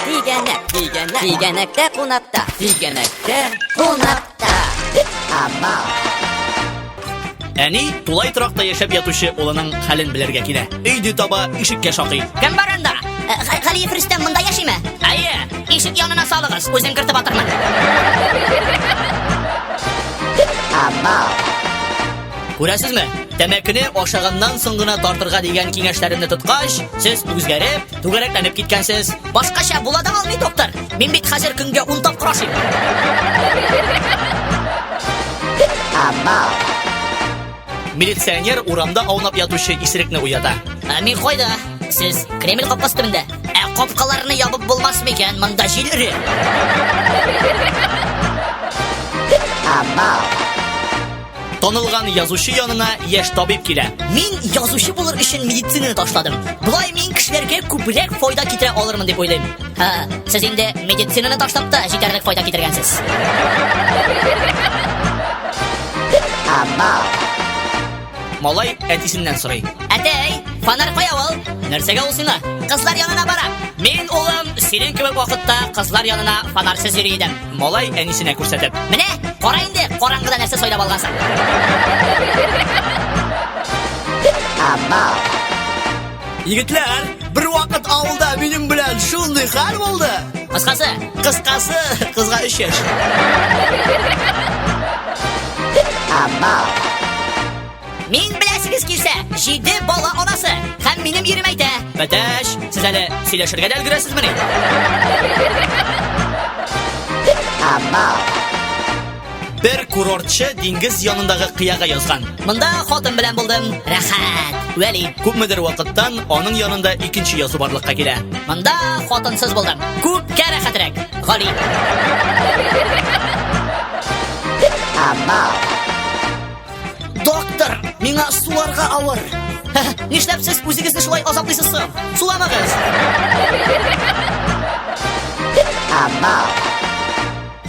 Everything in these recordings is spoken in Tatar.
Тигәнәк, тигәнәк, тигәнәктә кунакта, тигәнәктә кунакта. Амал. Әни тулай торакта яшәп ятучы улының хәлен белергә килә. Өйдө таба ишеккә шакый. Кем бар анда? Э, Га- Галиев Рөстәм монда яшиме? Әйе, ишек янына салыгыз, үзен кертеп атырмын. Амал. Күрәсезме? Тәмәкене ашаганнан соң гына тартырга дигән киңәшләремне тоткач, сез үзгәреп, түгәрәкләнеп киткәнсез. Башкача була да алмый, доктор. Мин бит хәзер көнгә 10 тапкыр ашыйм. Милиционер урамда аунап ятучы исерекне уята. Ә мин кайда? Сез Кремль капкасы төбендә. Ә капкаларны ябып булмас микән? Монда җил эре. Абау. Танылган язучы янына яшь табиб килә. Мин язучы булыр өчен медицинаны ташладым. Болай мин кешеләргә күбрәк файда китерә алырмын дип уйлыйм. Ха, сез инде медицинаны ташлап та җитәрлек файда китергәнсез. Малай әтисеннән сорый. Әтәй, фонарь кая ул? Нәрсәгә ул сиңа? Кызлар янына бара. Мин, улым, синең кебек вакытта кызлар янына фонарьсыз йөри идем. Малай әнисенә күрсәтеп. Менә, кара инде, караңгыда нәрсә сайлап алгансың. Егетләр, бер вакыт авылда минем белән шундый хәл булды. Кыскасы, Кыскасы, кызга 3 яшь. Мин беләсегез килсә, җиде бала анасы һәм минем ирем әйтә. Бәтәш, сез әле сөйләшергә дә өлгерәсезмени? Бер курортчы диңгез янындагы кыяга язган. Монда хатын белән булдым. Рәхәт. Вәли, күпмедер вакыттан аның янында икенче язу барлыкка килә. Монда хатынсыз булдым. Күпкә рәхәтрәк. Гали. Абау. Доктор, миңа суларга авыр. Нишләп сез үзегезне шулай азаплыйсыз соң? Суламагыз.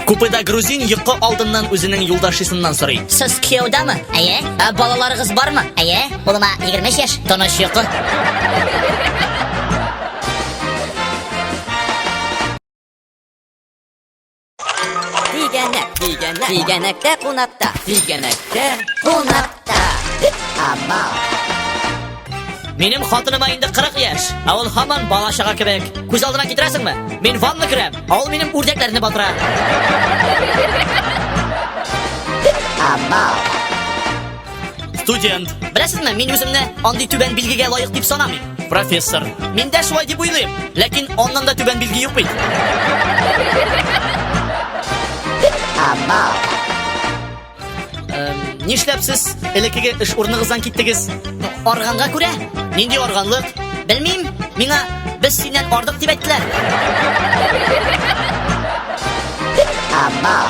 Купеда грузин йокы алдыннан үзенең юлдашысыннан сорый. Сез кияүдәме? Әйе. Ә балаларыгыз бармы? Әйе. Улыма 25 яшь, тыныч йокы. Тигәнәк, тигәнәк, тигәнәктә кунакта, тигәнәктә кунакта. Ама. Минем хатыныма инде 40 яшь, ә ул һаман бала чага кебек. Күз алдына китерәсеңме? Мин ванна керәм, ә ул минем үрдәкләрне батыра. Ама. Студент. Беләсезме, мин үземне андый түбән билгегә лаек дип санамыйм. Профессор. Мин дә шулай дип уйлыйм, ләкин аннан да түбән билге юк бит. Эм, Нишләп сез элеккеге эш урыныгыздан киттегез? Арганга күрә? Нинди арганлык? Белмим, миңа без синнән ардык дип әйттеләр. Абау.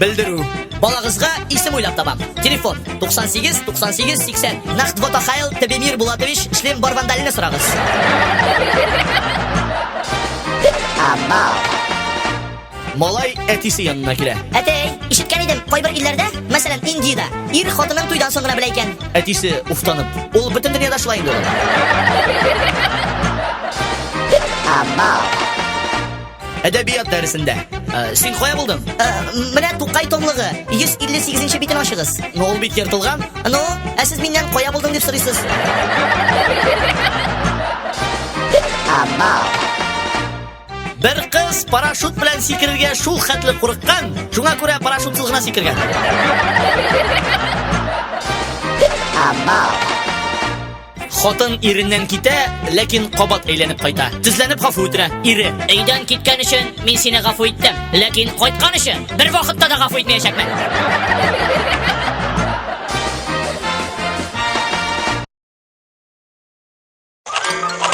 Белдерү. Балагызга исем уйлап табам. Телефон 98 98 80. Нахт Ватахайл Тебемир Булатович шлем барвандалны сорагыз. Амал. Малай әтисе янына килә. Әтәй, ишеткән идем, кайбер илләрдә, мәсәлән, Индиядә, ир хатынын туйдан соң гына белә икән. Әтисе уфтанып, ул бөтен дөньяда шулай инде. Амал. Әдәбият дәресендә. Ә, син кая булдың? Ә, менә Тукай томлыгы 158 нче битен ачыгыз. Ну, ул бит ертылган. Ну, ә сез миннән кая булдың дип сорыйсыз? Амал. Бер кыз парашют белән сикерергә шул хәтле курыккан, шуңа күрә парашютсыз гына сикергән. Амал. Хатын иреннән китә, ләкин кабат әйләнеп кайта. Тезләнеп гафу үтенә. Ире. Өйдән киткән өчен мин сине гафу иттем. Ләкин кайткан өчен бер вакытта да гафу итмәячәкмен.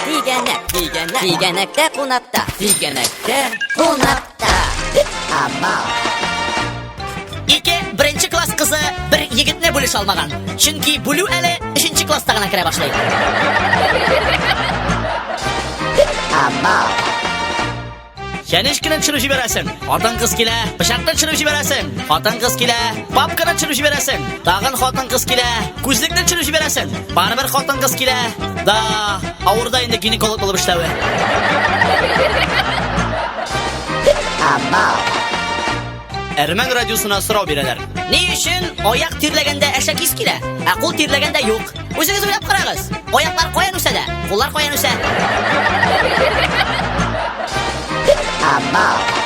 Тигәнәк, тигәнәк, тигәнәктә кунакта. Тигәнәктә кунакта. Ике беренче класс кызы бер егетне бүлеш алмаган. Чөнки бүлү әле өченче класста гына керә башлый. Чәнеш кенә төшереп җибәрәсең. Хатын кыз килә, пычакны төшереп җибәрәсең. Хатын кыз килә, папканы төшереп җибәрәсең. Тагын хатын кыз килә, күзлекне төшереп җибәрәсең. Барыбер хатын-кыз килә. Да, авырда инде гинеколог булып эшләве. Абау. Әрмән радиосына сорау бирәләр. Ни өчен аяк тирләгәндә әшәк ис килә, ә кул тирләгәндә юк? Үзегез уйлап карагыз. Аяклар каян үсә дә, куллар каян үсә? Абау.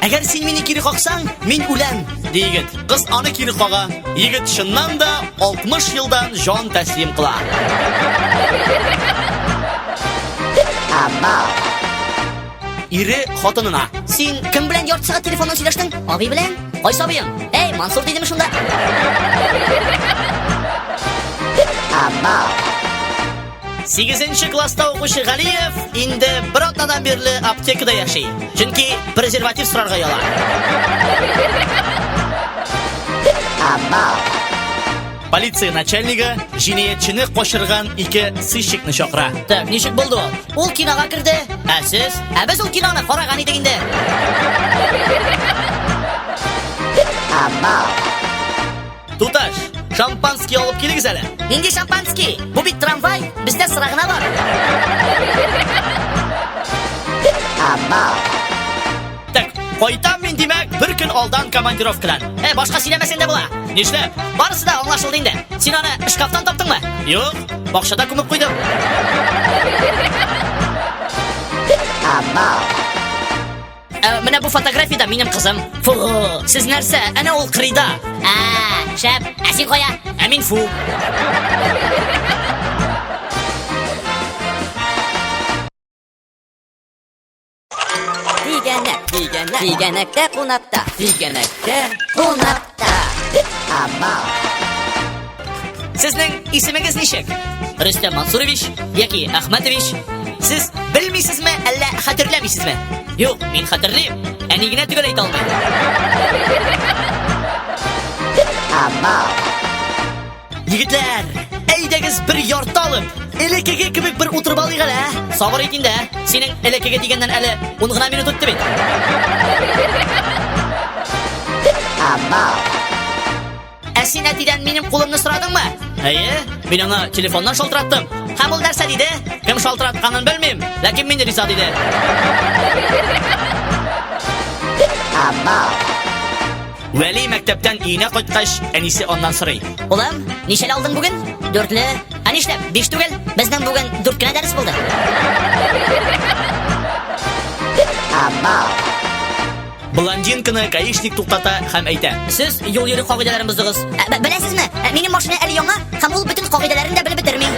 Әгәр син мине кире каксаң, мин үләм, ди егет. Кыз аны кире кага. Егет чыннан да 60 елдан җан тәслим кыла. Ире хатынына. Син кем белән ярты сәгать телефоннан сөйләштең? Абый белән? Кайсы абыең? Эй, Мансур дидеме шунда? Абау. Сигезенче класста укучы Галиев инде бер атнадан бирле аптекада яши. Чөнки презерватив сорарга яла. Полиция начальнигы җинаятьчене качырган ике сыщикны чакыра. Так, ничек булды ул? Ул кинога керде. Ә сез? Ә без ул киноны караган идек инде. Туташ, шампанский алып килегез әле. Нинди шампанский? Бу бит трамвай, бездә сыра гына бар. Так, кайтам мин димәк, бер көн алдан командировкадан. Э, башка сөйләмәсәң дә була. Нишләп? Барысы да аңлашылды инде. Син аны шкафтан таптыңмы? Юк, бакчада күмеп куйдым. Абау. Ә, менә бу фотографиядә минем кызым. Фу, сез нәрсә? Әнә ул кырыйда. А, шәп. Ә син кая? Ә мин фу. Тигәнәк, тигәнәк, тигәнәктә кунакта, тигәнәктә кунакта. Сезнең исемегез ничек? Рөстәм Мансурович яки Ахматович? Сез белмисезме, әллә хәтерләмисезме? Юк, мин хәтерлим. Әни генә төгәл әйтә алмый. Амал. Егетләр, әйдәгез бер ярты алып, элекеге кебек бер утырып алыйк әле, ә? Сабыр ит инде, ә? Синең элекеге дигәннән әле 10 гына минут үтте бит. Амал. Ә син әтидән минем кулымны сорадыңмы? Әйе, мин аңа телефоннан шалтыраттым. Һәм ул нәрсә диде? Кем шалтыратканын белмим, ләкин мин риза диде. Амал. Вәли мәктәптән өенә кайткач, әнисе аннан сорый. Улым, ничәле алдың бүген? Дүртле. Ә нишләп? Биш түгел. Безнең бүген дүрт кенә дәрес булды. Блондинканы гаишник туктата һәм әйтә. Сез юл йөрү кагыйдәләрен боздыгыз. Ә, б- Беләсезме, ә, минем машина әле яңа, һәм ул бөтен кагыйдәләрен дә белеп бетерми.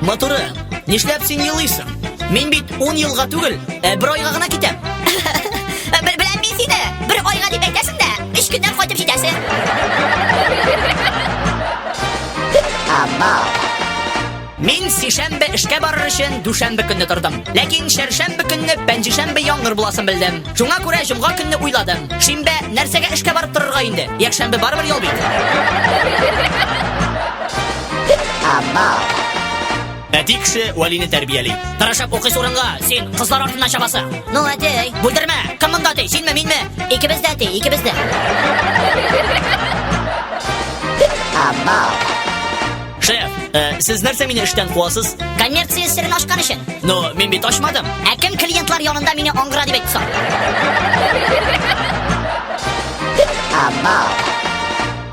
Моторы, нишләп син елыйсың? Мин бит Ун елга түгел, ә бер айга гына китәм. Бел- Беләм мин сине. Бер айга дип әйтәсең дә, өч көннән кайтып җитәсең. Мин сишәмбе эшкә барыр өчен дүшәмбе көнне тордым. Ләкин шәршәмбе көнне пәнҗешәмбе яңгыр буласын белдем. Шуңа күрә җомга көнне уйладым. Шимбә нәрсәгә эшкә барып торырга инде? Якшәмбе барыбер ял бит. Әти кеше вәлине тәрбияли. Тырышып укыйсы урынга, син кызлар артыннан чабасың. Ну, әти. Бүлдермә. Кем монда әти? Синме, минме? Икебез дә әти, икебез дә. Шеф, э, сез нәрсә мине эштән куасыз? Коммерция серен ашкан өчен. Ну, мин бит ачмадым. Ә кем клиентлар янында мине аңгыра дип әйтте соң? Абау.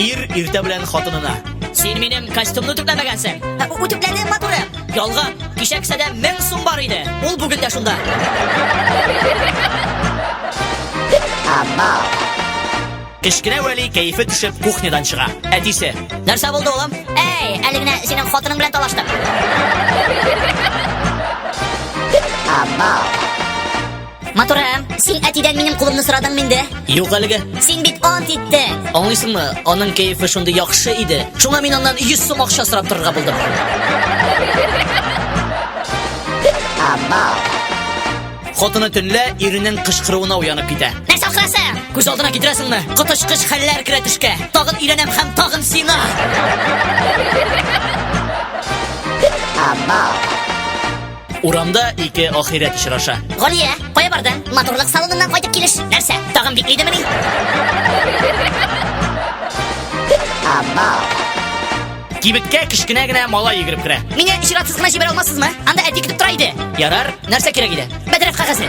Ир иртә белән хатынына. Син минем костюмны түпләмәгәнсең. Ә, у- Үтүкләне матуры. Ялган. Кичә кесәдә мең сум бар иде. Ул бүген дә шунда. Кечкенә Вәли кәефе төшеп кухнядан чыга. Әтисе. Нәрсә булды, улым? Әй, әле генә синең хатының белән талаштым. Матурам, син әтидән минем кулымны сорадыңмы инде? Юк әлегә. Син бит ант иттең. Аңлыйсыңмы? Аның кәефе шундый яхшы иде. Шуңа мин аннан 100 сум акча сорап торырга булдым. Хатыны төнлә иренең кычкыруына уянып китә. Нәрсә ахрасы? Күз алдына китерәсеңме? Коточкыч хәлләр керә төшкә. Тагын өйләнәм һәм тагын сина. Абау. Урамда ике ахирәт очраша. Галия, кая барды? Матурлык салоныннан кайтып килеш. Нәрсә? Тагын биклидеме ни? Кибеткә кечкенә генә малай йөгереп керә. Мине чиратсыз гына җибәрә алмассызмы? Анда әти көтеп тора иде. Ярар, нәрсә кирәк иде? Бәдрәф кәгазе.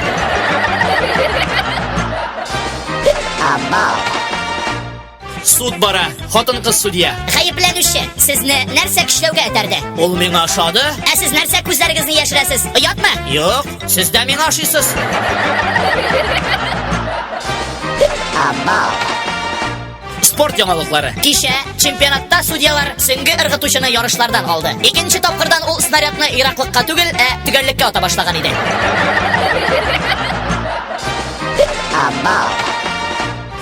Абау. Суд бара, хатын-кыз судья. Гаепләнүче, сезне нәрсә көчләүгә этәрде? Ул миңа ошады? Ә сез нәрсә күзләрегезне яшерәсез? Оятмы? Юк, сез дә миңа ошыйсыз. Спорт яңалыклары. Кичә чемпионатта судьялар сөнге ыргытучыны ярышлардан алды. Икенче тапкырдан ул снарядны ераклыкка түгел, ә төгәллеккә ата башлаган иде. Абау.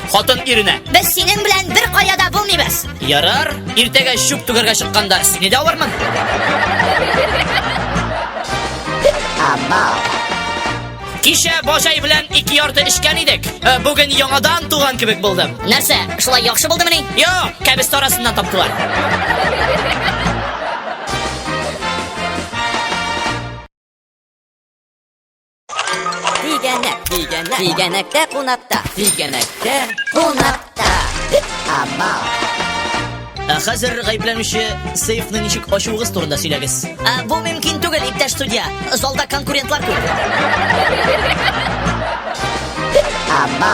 Хатын иренә. Без синең белән бер кая да булмыйбыз. Ярар, иртәгә чүп түгәргә чыкканда сине дә алырмын. Кичә бажай белән ике ярты эчкән идек. Ә, Бүген яңадан туган кебек булдым. Нәрсә, шулай яхшы булдымыни? Йо, кәбестә арасыннан таптылар. Тигәнәк, тигәнәк, тигәнәктә кунакта, тигәнәктә кунакта. Ама. Ә хәзер гаепләнүче сейфны ничек ачуыгыз турында сөйләгез. Ә, бу мөмкин түгел, иптәш судья. Залда конкурентлар күп. Ама.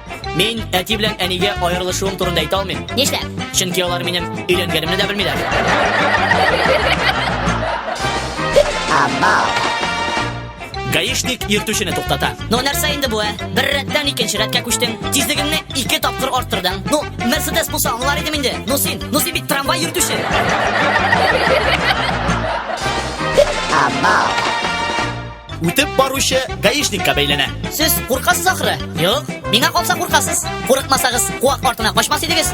Мин әти белән әнигә аерылышуым турында әйтә алмыйм. Нишләп? Чөнки алар минем өйләнгәнемне дә белмиләр. Гаишник йөртүчене туктата. Ну нәрсә инде бу, ә? Бер рәттән икенче рәткә күчтең. Тизлегеңне ике тапкыр арттырдың. Ну, Мерседес булса аңлар идем инде. Ну син, ну син бит трамвай йөртүче. үтеп баручы гаишникка бәйләнә. Сез куркасыз ахры? Юк, миңа калса куркасыз. Курыкмасагыз, куак артына качмас идегез.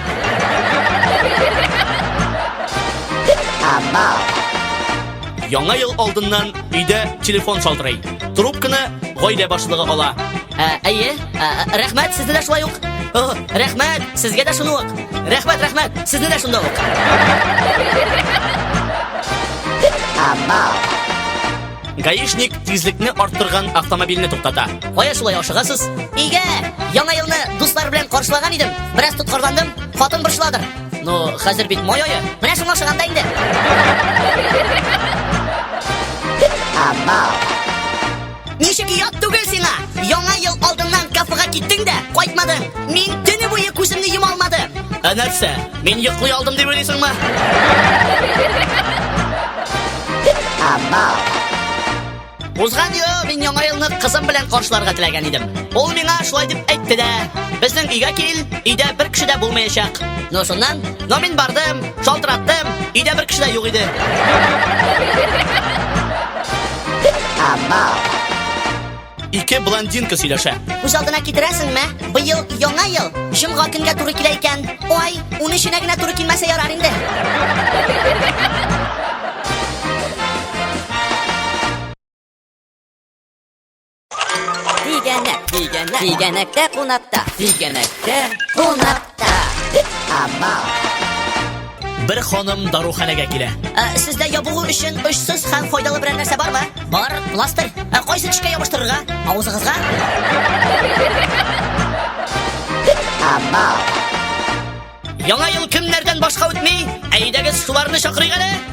Яңа ел алдыннан өйдә телефон шалтырый. Трубканы гаилә башлыгы ала. Ә, әйе, ә, рәхмәт, сезне дә шулай ук. О, рәхмәт, сезгә дә шуны ук. Рәхмәт, рәхмәт, сезне дә шунда ук. Абау. Гаишник тизлекне арттырган автомобильне туктата. Кая шулай ашыгасыз? Өйгә! Яңа елны дуслар белән каршылаган идем. Бераз тоткарландым, хатын борчыладыр. Ну, хәзер бит май ае. Менә шуңа ашыганда инде. Амал. Ничек ят түгел сиңа? Яңа ел алдыннан кафега киттең дә, кайтмадың. Мин төне буе күземне йома алмадым. Ә нәрсә? Мин йоклый алдым дип уйлыйсыңмы? Абау. Узган ел мин яңа елны кызым белән каршыларга теләгән идем. Ул миңа шулай дип әйтте дә. Безнең өйгә кил, өйдә бер кеше дә булмаячак. Ну шуннан, но мин бардым, шалтыраттым, өйдә бер кеше дә юк иде. Абау. Ике блондинка сөйләшә. Үз алдына китерәсеңме? Быел яңа ел, җомга көнгә туры килә икән. Ой, уны эченә генә туры килмәсә ярар инде. Тигәнәк, тигәнәк, тигәнәктә кунакта, тигәнәктә кунак. Бер ханым даруханәгә килә. Ә, сездә ябыгу өчен очсыз һәм файдалы берәр нәрсә бармы? Бар, пластырь. Ә кайсы тешкә ябыштырырга? Авызыгызга? Яңа ел кемнәрдән башка үтми? Әйдәгез, шуларны чакырыйк әле.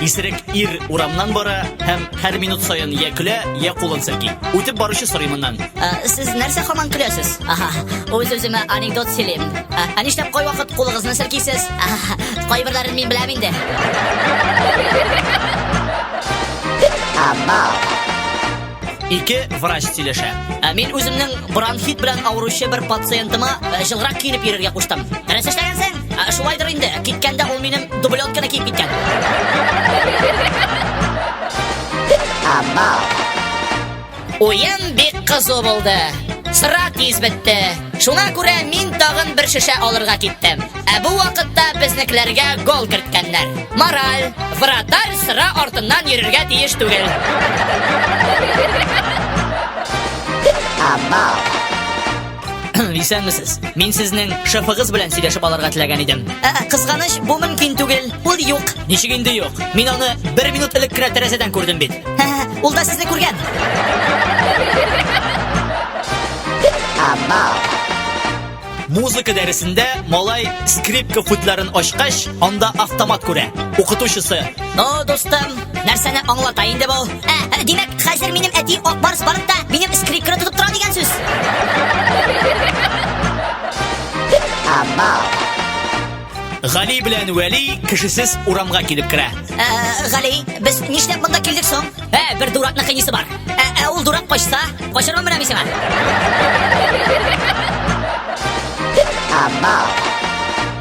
Исерек ир урамнан бара һәм һәр минут саен я көлә, я кулын селки. Үтеп баручы сорый моннан. Ә, сез нәрсә хаман көләсез? Аха, үз үземә анекдот сөйлим. Ә, ә нишләп кай вакыт кулыгызны селкисез? Аха, кайберләрен мин беләм инде. Абау. Ике врач сөйләшә. Ә мин үземнең бронхит белән авыручы бер пациентыма җылгырак киенеп йөрергә куштым. Нәрсә эшләгәнсең? Ә, шулайдыр инде, киткәндә ул минем дублетканы киеп киткән. Уен бик кызу булды. Сыра тиз бетте. Шуңа күрә мин тагын бер шешә алырга киттем. Ә бу вакытта безнекеләргә гол керткәннәр. Мораль, вратарь сыра артыннан йөрергә тиеш түгел. Абау. Исәнмесез. Мин сезнең шефыгыз белән сөйләшеп алырга теләгән идем. Ә, кызганыч, бу мөмкин түгел. Ул юк. Ничек инде юк? Мин аны бер минут элек кенә тәрәзәдән күрдем бит. Ул да сезне күргән. Музыка дәресендә малай скрипка футларын ачкач, анда автомат күрә. Укытучысы. Ну, дустым, нәрсәне аңлата инде бу? Ә, димәк, хәзер минем әти Акбарс балыкта минем скрипканы тотып тора дигән сүз. Гали белән Вәли кешесез урамга килеп керә. Ә, Гали, без нишләп монда килдек соң? Ә, бер дуракны кыйнисе бар. Ә, ә ул дурак качса, качармын менә мин сиңа. Абау.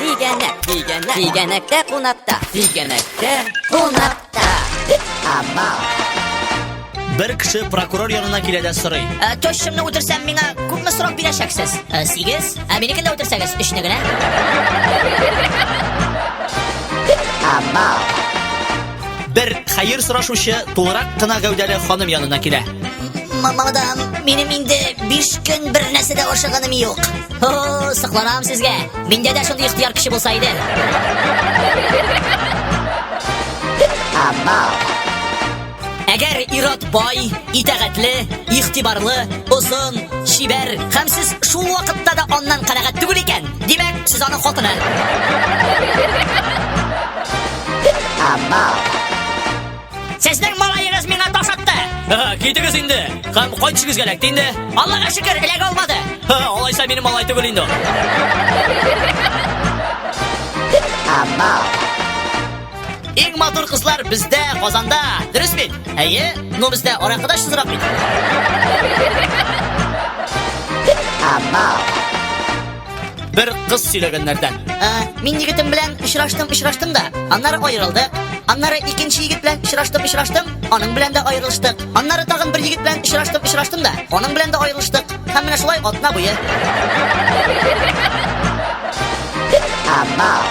Тигәнәк, тигәнәк, тигәнәктә кунакта, тигәнәктә кунакта. Ама. Бер кеше прокурор янына килә дә сорый. Ә, Тощымны үтерсәм, миңа күпме срок бирәчәксез? Ә, Сигез. Ә минекен дә үтерсәгез, өчне генә. Ама. Бер хәер сорашучы тулырак кына гәүдәле ханым янына килә. Мамадам, минем инде 5 көн бер нәрсә дә ашаганым юк. Хо, сыкланам сезгә. Миндә дә шундый ихтияр көче булса иде. Әгәр ират бай, итәгатьле, ихтибарлы, озын, чибәр һәм сез шул вакытта да аннан канәгать түгел икән, димәк, сез аның хатыны. Амал. Сезнең малаегыз миңа таш атты. Китегез инде. Һәм кайтышыгыз гәләк инде. Аллага шөкер, эләгә алмады. Алайса минем малай түгел инде. Иң матур кызлар бездә, Казанда. Дөрес бит? Әйе. Ну бездә аракыда шызрак бит. Амал. Бер кыз сөйләгәннәрдән. Ә, мин егетем белән очраштым, очраштым да. Аннары аерылдык. Аннары икенче егет белән очраштым, очраштым. Аның белән дә аерылыштык. Аннары тагын бер егет белән очраштым, очраштым да. Аның белән дә аерылыштык. Һәм менә шулай атна буе. Амал.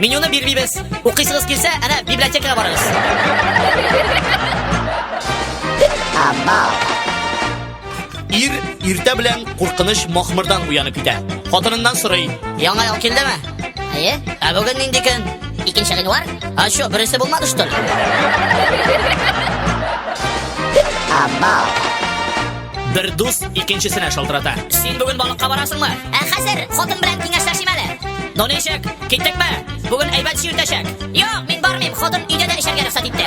Менюны бирмибез. Укыйсыгыз килсә, әнә библиотекага барыгыз. Ир иртә белән куркыныч махмырдан уянып китә. Хатыныннан сорый. Яңа ел килдеме? Әйе. Ә бүген нинди көн? Икенче гыйнвар? А что, бересе булмады что ли? Бер дус икенчесенә шалтырата. Син бүген балыкка барасыңмы? Ә хәзер хатын белән киңәшләшим әле. Ну ничек? Киттекме? Бүген әйбәт җил тәшәк. Юк, мин бармыйм, хатын өйдә дә эчәргә рөхсәт итте.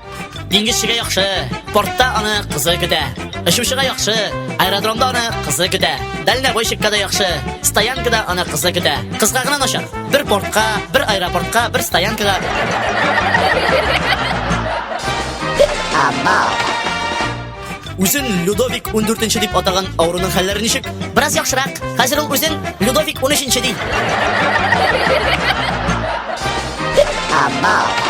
Диңгезчегә яхшы, портта аны кызы көтә. Очучыга яхшы, аэродромда аны кызы көтә. Дальнобойщикка да яхшы, стоянкада аны кызы көтә. Кызга гына начар. Бер портка, бер аэропортка, бер стоянкага. Үзен Людовик 14 дип атаган авыруның хәлләре ничек? Бераз яхшырак. Хәзер ул үзен Людовик 13 ди. Абау.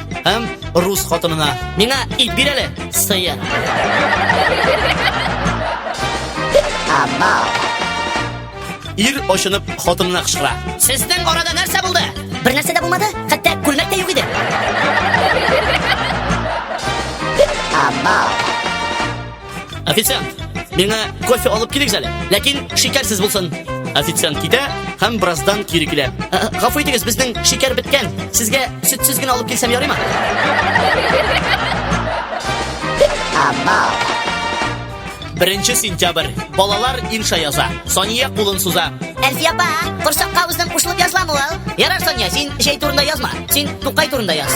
Һәм рус хатынына, миңа ит бир әле, сыер. Ир очынып хатынына кычкыра. Сезнең арада нәрсә булды? Бер нәрсә дә булмады, хәтта күлмәк тә юк иде. Абау. Официант, миңа кофе алып килегез әле, ләкин шикәрсез булсын. Официант китә һәм бераздан кире килә. Ә, ә, Гафу итегез, безнең шикәр беткән. Сезгә сөтсез генә алып килсәм ярыймы? Беренче сентябрь. Балалар инша яза. Сания кулын суза. Әлфия апа, корсакка үзең кушылып язламы ул? Ярар, Сания, син җәй турында язма. Син Тукай турында яз.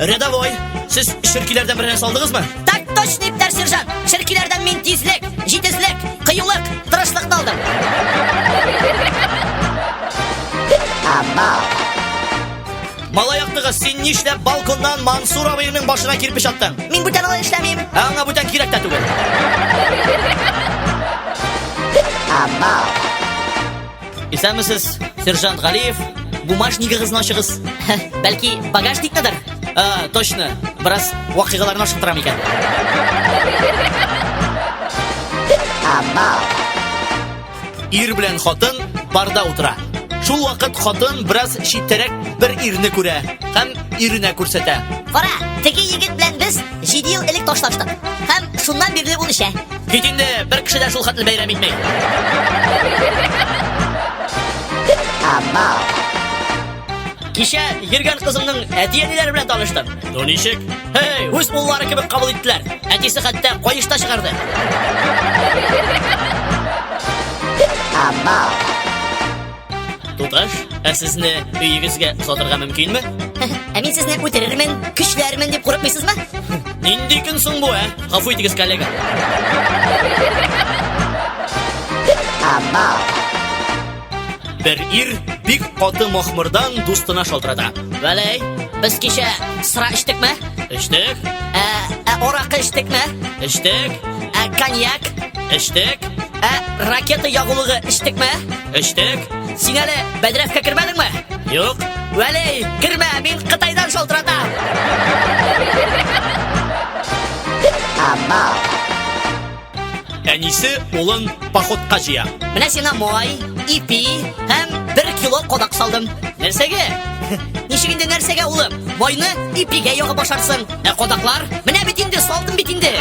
Рядовой, сез ширкиләрдән беренә салдыгызмы? Так точно, иптәш сержант. Ширкиләрдән мин тизлек, җитезлек, кыюлык, тырышлыкны алдым. Малай яктыгыз, син нишләп балконнан Мансур абыйның башына кирпеч аттың? Мин бүтән алай эшләмим. Ә аңа бүтән кирәк тә түгел. Исәнмесез, сержант Галиев. Бумажнигыгызны ачыгыз. Бәлки багажникныдыр? Ә, точно. Бераз вакыйгаларны ашыктырам икән. Ир белән хатын барда утыра. Шул вакыт хатын бераз читтәрәк бер ирне күрә һәм иренә күрсәтә. Кара, теге егет белән без 7 ел элек ташлаштык. Һәм шуннан бирле ул эчә. Бит инде бер кеше дә шул хәтле бәйрәм итми. Кичә йөргән кызымның әти-әниләре белән таныштым. Ну ничек? Эй, үз уллары кебек кабул иттеләр. Әтисе хәтта каешта чыгарды. Абау. Туташ, ә сезне өегезгә озатырга мөмкинме? Ә мин сезне үтерермен, көчләрмен дип курыкмыйсызмы? Нинди көн соң бу, ә? Гафу итегез, коллега. Бер ир бик каты махмырдан дустына шалтырата. Вәләй, без кичә сыра эчтекме? Эчтек, Ә, ә аракы эчтекме? эчтек, Ә коньяк? эчтек. Ә ракета ягулыгы эчтекме? Эчтек. Син әле бәдрәфкә кермәдеңме? Юк. Вәли, кермә, мин Кытайдан шалтыратам. Әнисе улын походка җыя. Менә сиңа май, ипи һәм бер кило кадак салдым. Нәрсәгә? Ничек инде нәрсәгә, улым? Майны ипигә ягып ашарсың. Ә кодаклар? Менә бит инде, салдым бит инде.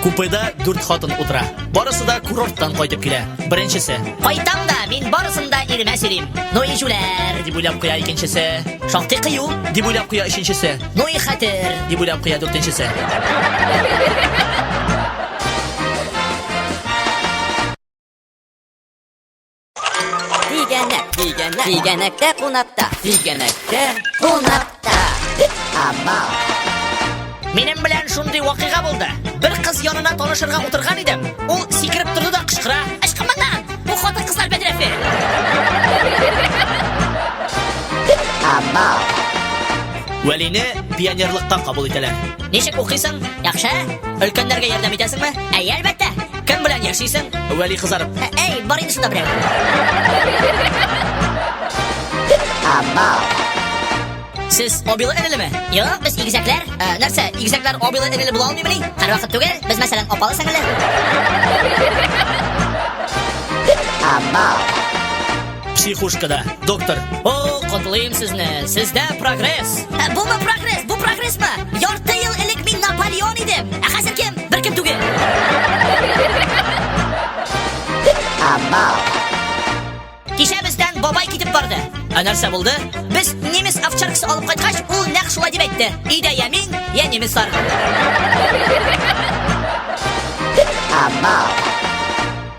Купеда дүрт хатын утыра. Барысы да курорттан кайтып килә. Беренчесе. Кайтам да, мин барысын да иремә сөйлим. Ну и җүләр, дип уйлап куя икенчесе. Шактый кыю, дип уйлап куя өченчесе. Ну и хәтер, дип уйлап куя дүртенчесе. Тигәнәк, тигәнәк, тигәнәктә кунакта, тигәнәктә кунакта. Ама. Минем белән шундый вакыйга булды. Бер кыз янына танышырга утырган идем. Ул сикереп торды да кычкыра. Ычкынмадан! Бу хатын кызлар бәдрәфе. Ама. Вәлине пионерлыкка кабул итәләр. Ничек укыйсың? Яхшы? Өлкәннәргә ярдәм итәсеңме? Әйе, әлбәттә. Кем белән яшисең? Вәли кызарып. Ә, Әй, бар инде шунда берәү. Сез обилы энелеме? Юк, без игезәкләр. Ә, нәрсә, игезәкләр обилы энеле була алмыймыни? Һәрвакыт түгел. Без мәсәлән апалы сеңеле. Психушкада, доктор. О, котлыйм сезне. Сездә прогресс. Ә, бу ма прогресс, бу прогресс ма? Ярты ел элек мин Наполеон идем. Ә хәзер кем? Бер кем түгел. Кичә бездән бабай китеп барды. Ә нәрсә булды? Без немец овчаркасы алып кайткач, ул нәкъ шулай дип әйтте. Идә я мин, я немецлар. Абау.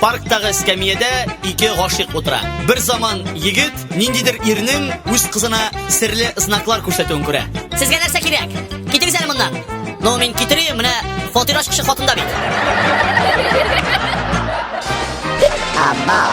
Парктагы эскәмиядә ике гашыйк утыра. Бер заман егет ниндидер ирнең үз кызына серле знаклар күрсәтүен күрә. Сезгә нәрсә кирәк? Китегез әле моннан. Ну, мин китерим, менә фатираш кеше хатында бит. Амал.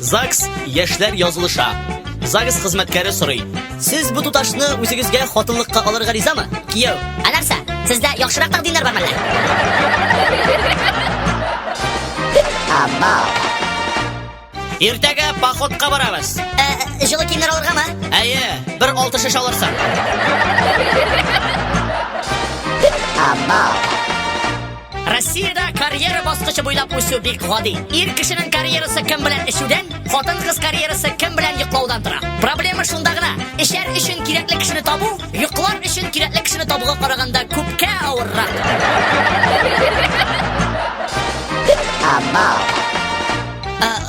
ЗАГС яшьләр язылыша. ЗАГС хезмәткәре сорый. Сез бу туташны үзегезгә хатынлыкка алырга ризамы? Кияү. Ә нәрсә? Сездә яхшырак тәкъдимнәр бармы әллә? Иртәгә походка барабыз. Ә, җылы киемнәр алыргамы? Әйе, бер алты шеш алырсың. Абау. Россиядә карьера баскычы буйлап үсү бик гади. Ир кешенең карьерасы кем белән эчүдән, хатын-кыз карьерасы кем белән йоклаудан тора. Проблема шунда гына. Эчәр өчен кирәкле кешене табу, йоклар өчен кирәкле кешене табуга караганда күпкә авыррак.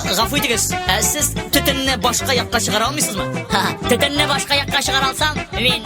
Гафу итегез, сез төтенне башка якка чыгара алмыйсызмы? Төтенне башка якка чыгара алсам, мин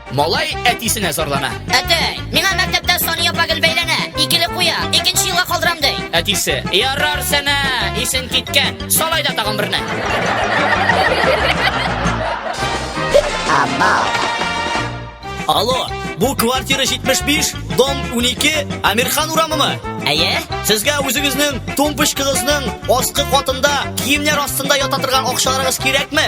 Малай әтисенә зарлана. Әтәй, миңа мәктәптә Сания Багел бәйләнә. Икеле куя, икенче елга калдырам ди. Әтисе, ярар сәнә, исен киткән. Салай да тагын берне. Алло, бу квартира 75, дом 12, Амирхан урамымы? Әйе? Сезгә үзегезнең тумпочкыгызның аскы катында киемнәр астында ята торган акчаларыгыз кирәкме?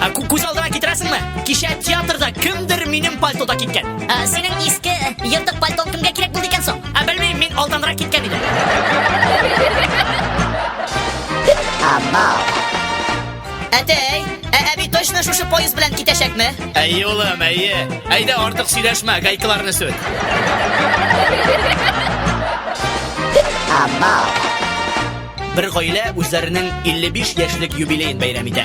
Ә, кү- Күз алдына китерәсеңме? Кичә театрда кемдер минем пальтода киткән. Ә, синең иске ертык пальтон кемгә кирәк булды икән соң? Ә белмим, мин алданрак киткән идем. Әтәй, ә әби точно шушы поезд белән китәчәкме? Әйе, улым, әйе. Әйдә, артык сөйләшмә, гайкаларны сүт. Бер гаилә үзләренең 55 яшьлек юбилеен бәйрәм итә.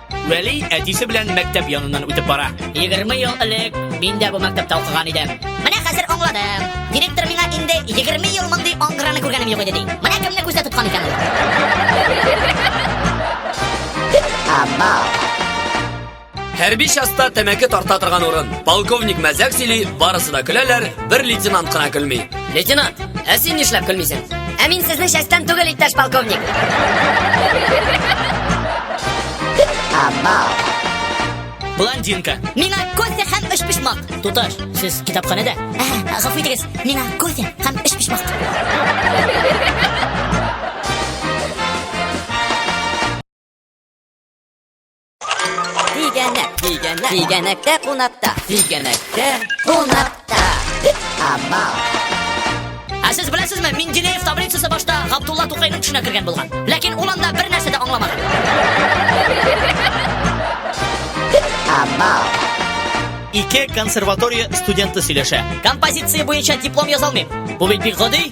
Вәли әтисе белән мәктәп яныннан үтеп бара. 20 ел элек мин дә бу мәктәптә укыган идем. Менә хәзер аңладым. Директор миңа инде 20 ел мондый аңгыраны күргәнем юк иде ди. Менә кемне күздә тоткан икән ул. Хәрби частта тәмәке тарта торган урын. Полковник мәзәк сөйли, барысы да көләләр, бер лейтенант кына көлми. Лейтенант, ә син нишләп көлмисең? Ә мин сезнең частьтан түгел, иптәш полковник. Блондинка. Миңа кофе һәм өч почмак. Туташ, сез китапханәдә? Ә, Гафу итегез, миңа кофе һәм өч почмак. Тигәнәк, тигәнәк, тигәнәктә кунакта. Тигәнәктә кунакта. Амал. Ә сез беләсезме, Менделеев таблицасы башта Габдулла Тукайның төшенә кергән булган. Ләкин ул анда бер нәрсә дә аңламады. Амал. Ике консерватория студенты сөйләшә. Композиция буенча диплом язалмыйм. Бу бит бик гади.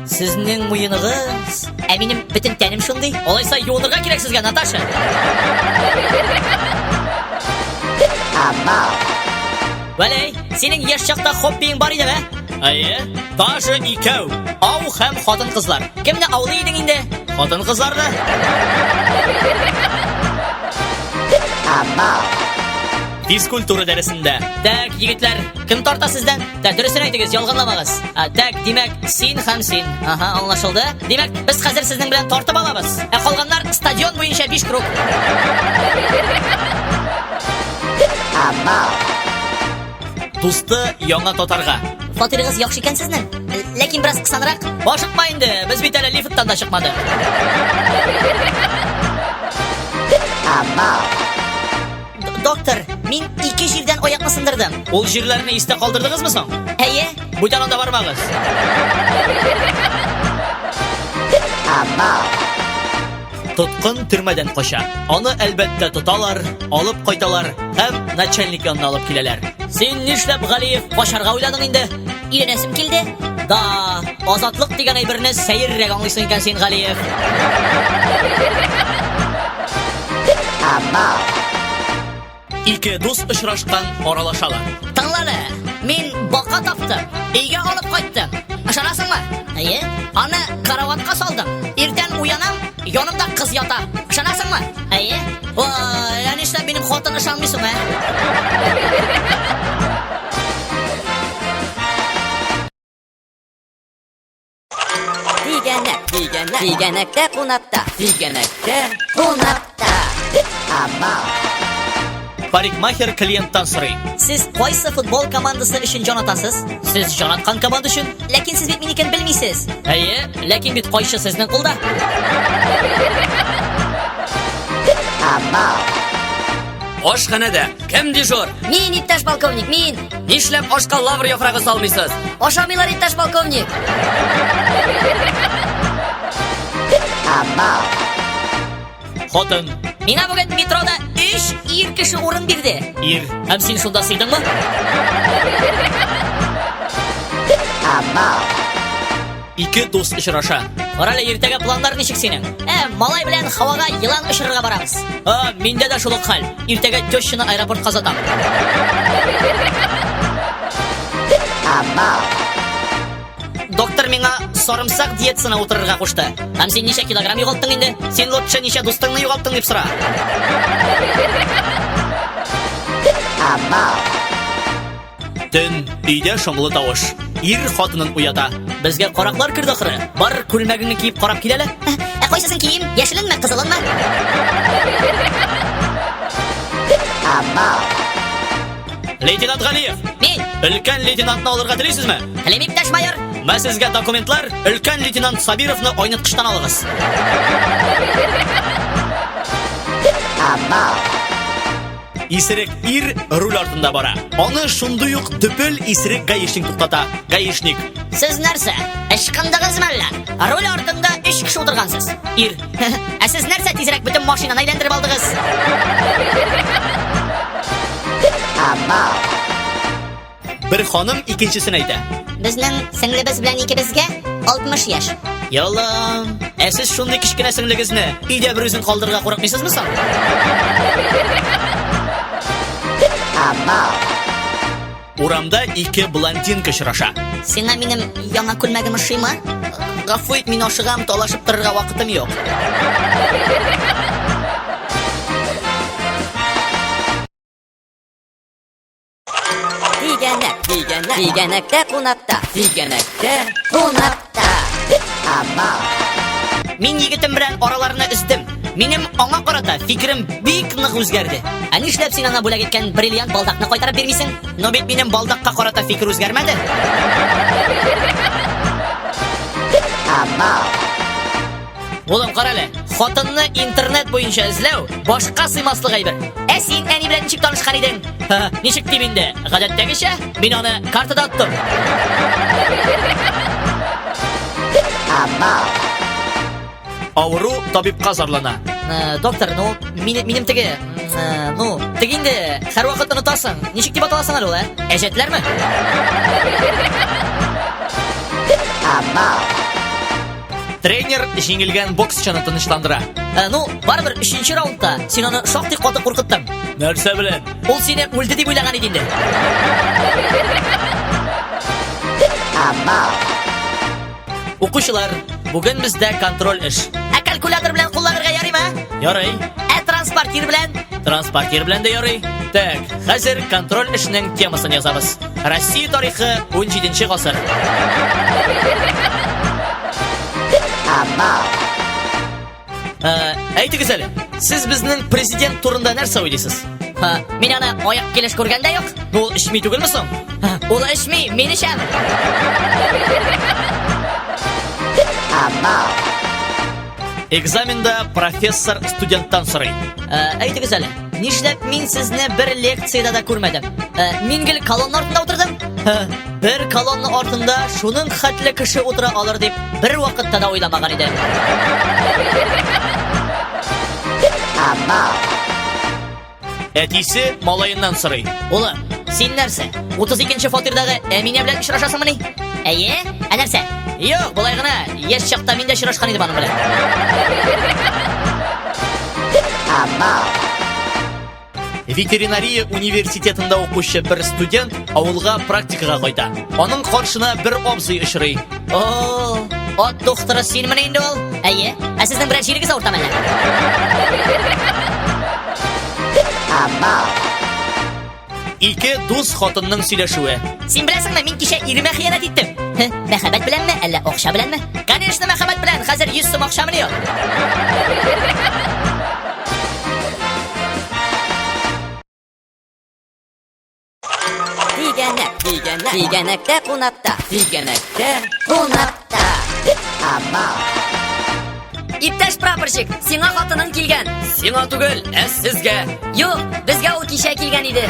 Сезнең муеныгыз, ә минем бөтен тәнем шундый. Алайса юынырга кирәк сезгә, Наташа. Амал. Вәләй, синең яшь чакта хоббиең бар иде, ә? Әйе, даже икәү. Ау һәм хатын-кызлар. Кемне аулый идең инде? Хатын-кызларны. Физкультура дәресендә. Так, егетләр, кем тарта сездән? Тә, дөресен әйтегез, ялганламагыз. А, тәк, димәк, син һәм син. Ага, аңлашылды. Димәк, без хәзер сезнең белән тартып алабыз. Ә калганнар стадион буенча 5 круг. Дусты яңа татарга. Фатирыгыз яхшы икән сезнең. Ләкин бераз кысанрак. Ашыкма инде, без бит әле лифттан да чыкмадык. Амал. Доктор, мин ике җирдән аякны сындырдым. Ул җирләрне истә калдырдыгызмы соң? Әйе. Бүтән анда бармагыз. Амал. Тоткын төрмәдән кача. Аны әлбәттә тоталар, алып кайталар һәм начальник янына алып киләләр. Син нишләп, Галиев, качарга уйладың инде? Өйрәнәсем килде. Да, азатлык дигән әйберне сәеррәк аңлыйсың икән син, Галиев. Ама. Ике дус очрашкан аралашалар. Тыңлады. Мин бака таптым. Өйгә алып кайттым. Ышанасыңмы? Әйе. Аны караватка салдым. Иртән уянам, Янымда кыз ята. Ышанасыңмы? Әйе. Вай, ә нишләп минем хатын ышанмый соң, ә? Тигәнәк, тигәнәк, тигәнәктә кунакта, тигәнәктә кунакта. Амал. Парикмахер клиенттан сорый. Сез кайсы футбол командасы өчен җан атасыз? Сез җан аткан команда өчен? Ләкин сез бит минекен белмисез. Әйе, ләкин бит кайчы сезнең кулда? Ашханәдә кем дежур? Мин, иптәш полковник, мин. Нишләп ашка лавр яфрагы салмыйсыз? Ашамыйлар, иптәш полковник. Абау. Хатын. Мина бүген метрода 3 ир кеше урын бирде. Ир. Һәм син шунда сыйдыңмы? Ике дус очраша. Орале иртәгә планнар ничек синең? Ә, малай белән һавага елан очырырга барабыз. А, миндә дә шул ук хәл. Иртәгә тещаны аэропортка озатам. Амал. Доктор миңа сарымсак диетасына утырырга кушты. Һәм син ничә килограмм югалттың инде? Син лучше ничә дустыңны югалттың дип сора. Төн, өйдә шомлы тавыш. Ир хатынын уята. Безгә караклар керде ахры. Бар күлмәгеңне киеп карап киләле. Ә кайсысын кием? Яшеленме, кызылынмы? Абау. Лейтенант Галиев. Мин. Өлкән лейтенантны алырга телисезме? Телим, иптәш майор. Мә сезгә документлар, өлкән лейтенант Сабировны айныткычтан алыгыз. Абау. Исерек ир руль артында бара. Аны шундый ук төпел исерек гаишник туктата. Гаишник. Сез нәрсә? Ычкындыгызмы әллә? Руль артында өч кеше утыргансыз. Ир. Ә сез нәрсә тизрәк бөтен машинаны әйләндереп алдыгыз? Бер ханым икенчесен әйтә. Безнең сеңлебез белән икебезгә 60 яшь. Яллам. Ә сез шундый кечкенә сеңлегезне өйдә бер үзен калдырырга курыкмыйсызмы соң? Урамда ике блондинка очраша. Сиңа минем яңа күлмәгем ошыймы? Гафу ит, мин ашыгам, талашып торырга вакытым юк. Дигәнәк, дигәнәк, дигәнәктә кунакта, дигәнәктә кунакта. Мин егетем белән араларны өздем. Минем аңа карата фикерем бик нык үзгәрде. Ә нишләп син ана бүләк иткән бриллиант балдакны кайтарып бирмисең? Но бит минем балдакка карата фикер үзгәрмәде. Амал. Улым, кара әле, хатынны интернет буенча эзләү башка сыймаслык әйбер. Ә син әни белән ничек танышкан идең? Ничек дип инде? Гадәттәгечә, мин аны картада оттым. Авыру табибка зарлана. Э, доктор, ну, минем, минем теге, э, ну, теге инде, һәрвакыт онытасың. Ничек дип аталасың әле ул, ә? Әҗәтләрме? Амал. Тренер җиңелгән боксчыны тынычландыра. Ә, ну, барыбер өченче раундта син аны шактый каты куркыттың. Нәрсә белән? Ул сине үлде дип уйлаган иде инде. Укучылар, бүген бездә контроль эш. Ә калькулятор белән кулланырга ярыймы? а? Ярый. Ә транспортир белән? Транспортир белән дә ярый. Так, хәзер контроль эшнең темасын язабыз. Россия тарихы 17 гасыр. Амал. Э, әйтегез әле, сез безнең президент турында нәрсә уйлыйсыз? Ха, мин аны аяк килеш күргәндә юк. Ул эчми түгелме соң? Ул эчми, мин эчәм. Амал. Экзаменда профессор студенттан сорый. Э, әйтегез әле, Нишләп мин сезне бер лекцияда да күрмәдем? Ә, мин гел колонна артында утырдым. Һә, бер колонна артында шуның хәтле кеше утыра алыр дип бер вакытта да уйламаган идем. Әтисе малаеннан сорый. Улым, син нәрсә? 32 нче фатирдагы Әминә белән очрашасыңмыни? Әйе, ә нәрсә? Юк, болай гына. Яшь чакта мин дә очрашкан идем аның белән. Ветеринария университетында укучы бер студент авылга практикага кайта. Аның каршына бер абзый очрый. О, ат докторы синмени инде ул? Әйе. Ә сезнең белән җирегез авыртамы әллә? Ике дус хатынның сөйләшүе. Син беләсеңме, мин кичә иремә хыянәт иттем. Хе, мәхәббәт беләнме, әллә акча беләнме? Конечно, мәхәббәт белән. Хәзер 100 сум акчамны юк. Тигәнәк, тигәнәк, тигәнәктә кунакта, тигәнәктә кунакта. Иптәш прапорщик, сиңа хатының килгән. Сиңа түгел, ә сезгә. Юк, безгә ул кичә килгән иде.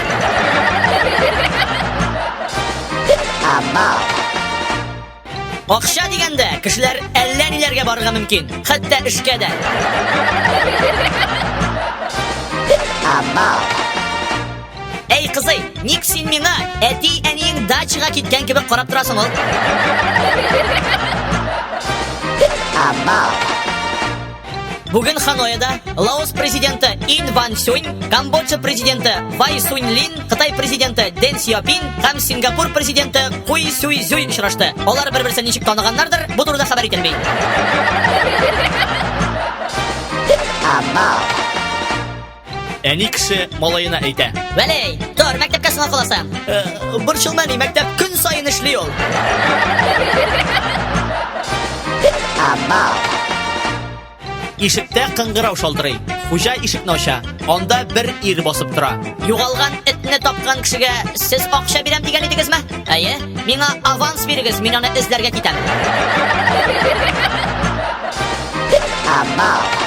Акча дигәндә, кешеләр әллә ниләргә барырга мөмкин. Хәтта эшкә дә. Абау. Әй кызый, ник син миңа әти әниең дачага киткән кебек карап торасың ул? Абау. Бүген Ханоеда Лаос президенты Ин Ван Сюнь, Камбоджа президенты Вай Сунь Лин, Кытай президенты Дэн Сиопин һәм Сингапур президенты Куй Сюй Зюй очрашты. Алар бер-берсен ничек таныганнардыр, бу турыда хәбәр ителми. Абау. Әни кеше малаена әйтә. Вәлей, тор, мәктәпкә сынау кыласы. Э, Борчылма ни, мәктәп көн саен эшли ул. Ишектә кыңгырау шалтырый. Хуҗа ишекне ача. Анда бер ир басып тора. Югалган этне тапкан кешегә сез акча бирәм дигән идегезме? Әйе. Миңа аванс бирегез, мин аны эзләргә китәм. Абау.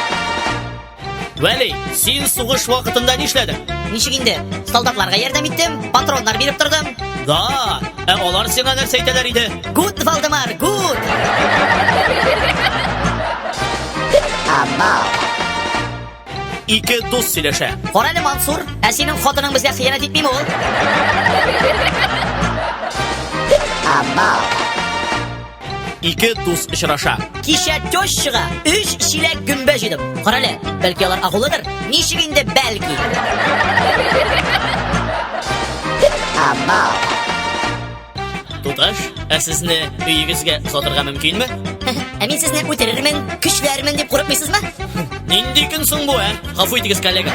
Вәли, син сугыш вакытында нишләдең? Ничек инде? Солдатларга ярдәм иттем, патроннар биреп тордым. Да, ә алар сиңа нәрсә әйтәләр иде? Гуд, Валдемар, гуд! Амал. Ике дус сөйләшә. Карале, Мансур, ә синең хатының безгә хыянәт итмиме ул? Амал. Ике дус очраша. Кичә тещага өч чиләк гөмбә җыйдым. Карале, бәлки алар агулыдыр? Ничек инде бәлки? Туташ, ә сезне өегезгә озатырга мөмкинме? Ә мин сезне үтерермен, көчләрмен дип курыкмыйсызмы? Нинди көн соң бу, ә? Гафу итегез, коллега.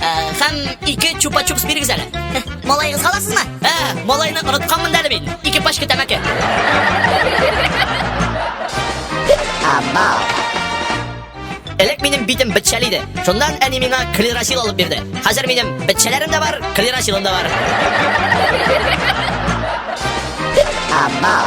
Ә, һәм ике чупа-чупс бирегез әле. Малайыгыз халасызмы? Ә, малайны онытканмын әле мин. Ике пачка тәмәке. Абау. Элек минем битем бетчәл иде. Шуннан әни миңа клерасил алып бирде. Хәзер минем бетчәләрем дә бар, клерасилым да бар. Абау.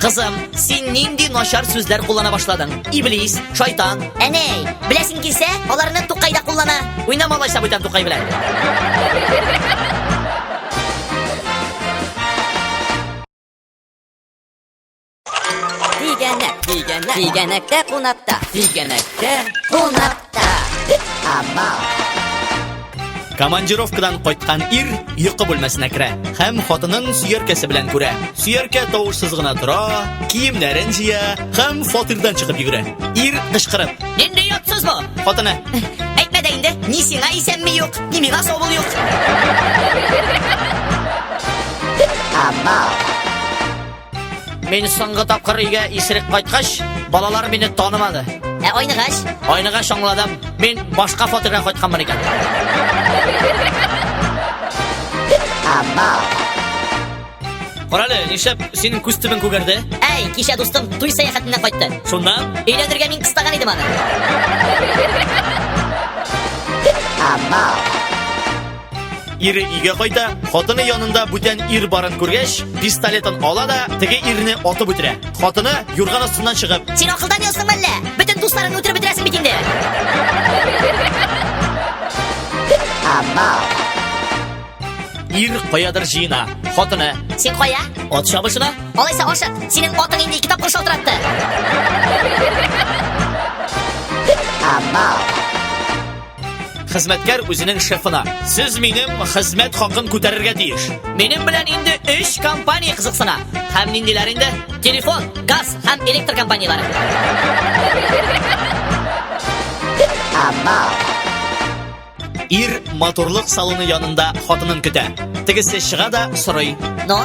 Кызым, син нинди начар сүзләр куллана башладың? Иблис, шайтан. Әнә, беләсең килсә, аларны Тукай да куллана. Уйнама алайса бүтән Тукай белән. Тигәнәк, тигәнәк, тигәнәктә кунакта, тигәнәктә кунакта. Командировкадан кайткан ир йокы бүлмәсенә керә һәм хатынын сөяркәсе белән күрә. Сөяркә тавышсыз гына тора, киемнәрен җыя һәм фатирдан чыгып йөгерә. Ир кычкырып. Нинди ятсыз бу? Хатыны. Әйтмә дә инде, ни сиңа исәнме юк, ни миңа савыл юк. Амал. Мин соңгы тапкыр өйгә исерек кайткач, балалар мине танымады. Ә айныгач? Айныгач аңладым. Мин башка фатирга кайтканмын икән. Амал. Карале, нишләп синең күз төбен күгәрде? Әй, кичә дустым туй сәяхәтеннән кайтты. Шунда? Өйләндергә мин кыстаган идем аны. Амал. Ире өйгә кайта, хатыны янында бүтән ир барын күргәч, пистолетын ала да, теге ирне атып үтерә. Хатыны юрган астыннан чыгып. Син акылдан ясың мәллә? Бүтән дусларыңны үтереп бетерәсең бит инде. Ир каядыр җыена. Хатыны. Син кая? Ат чабышына. Алайса ашык. Синең атың инде ике тапкыр шалтыратты. Амал. Хезмәткәр үзенең шефына. Сез минем хезмәт хакын күтәрергә тиеш. Минем белән инде 3 компания кызыксына. Һәм ниндиләр инде? Телефон, газ һәм электр компанияләре. Абау. Ир моторлык салоны янында хатынын көтә. Тегесе чыга да сорый. Но,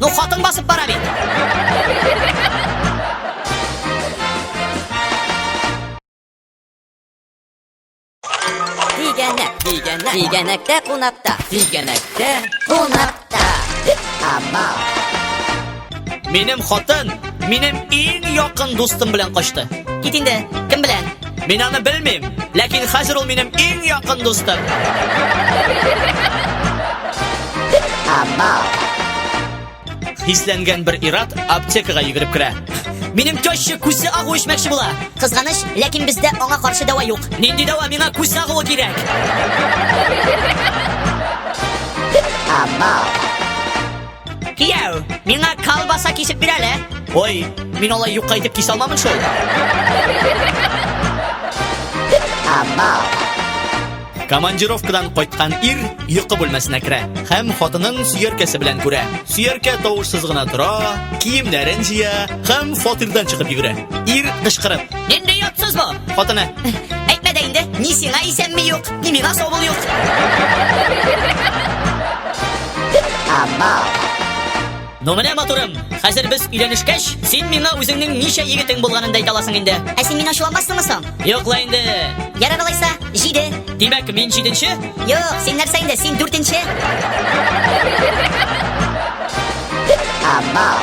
Ну, хатын басып бара бит. Тигәнәк, тигәнәк, тигәнәктә кунакта, тигәнәктә кунакта. Ама. Минем хатын, минем иң якын дустым белән качты. Кит инде, кем белән? Мин аны белмим, ләкин хәзер ул минем иң якын дустым. Хисләнгән бер ират аптекага йөгереп керә. Минем теща күсе агу эчмәкче була. Кызганыч, ләкин бездә аңа каршы дәва юк. Нинди дәва миңа күс агуы кирәк? Абау. Кияү, миңа колбаса кисеп бир әле. Ой, мин алай юкка итеп кисә алмамын шул. Командировкадан кайткан ир йокы бүлмәсенә керә һәм хатынын сөяркәсе белән күрә. Сөяркә тавышсыз гына тора, киемнәрен җыя һәм фатирдан чыгып йөгерә. Ир кычкырып, Нинди ятсыз бу? хатыны, Әйтмә дә инде, ни сиңа исәнми юк, ни миңа саубул юк. Ну менә матурым, хәзер без өйләнешкәч, син миңа үзеңнең ничә егетең булганын да әйтә аласың инде. Ә син мине ачуламассыңмы соң? Юк ла инде. Ярар алайса, җиде. Димәк, мин җиденче? Юк, син нәрсә инде, син дүртенче. Амал.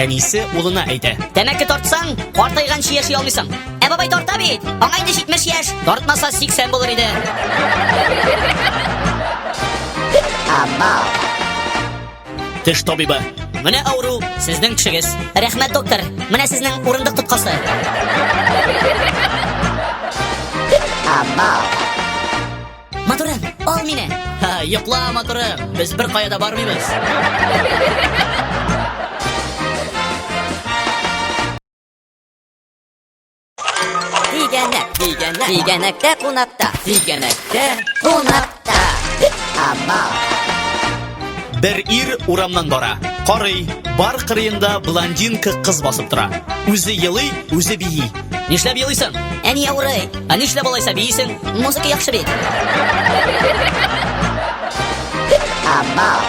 Әнисе улына әйтә. Тәмәке тартсаң, картайганчы яши алмыйсың. Ә бабай тарта бит. Аңа инде 70 яшь, тартмаса 80 булыр иде. Теш табибы. Менә авыру сезнең тешегез. Рәхмәт, доктор. Менә сезнең урындык тоткасы. Абау. Матурым, ал мине. Ха, йокла, матурым. Без бер кая да бармыйбыз. Дигәнәк, дигәнәк, дигәнәктә кунакта, дигәнәктә кунакта. Амал. Бер ир урамнан бара. Карый, бар кырыенда блондинка кыз басып тора. Үзе елый, үзе бии. Нишләп елыйсың? Әни авырый. Ә нишләп алайса биисең? Музыка яхшы бит. Абау.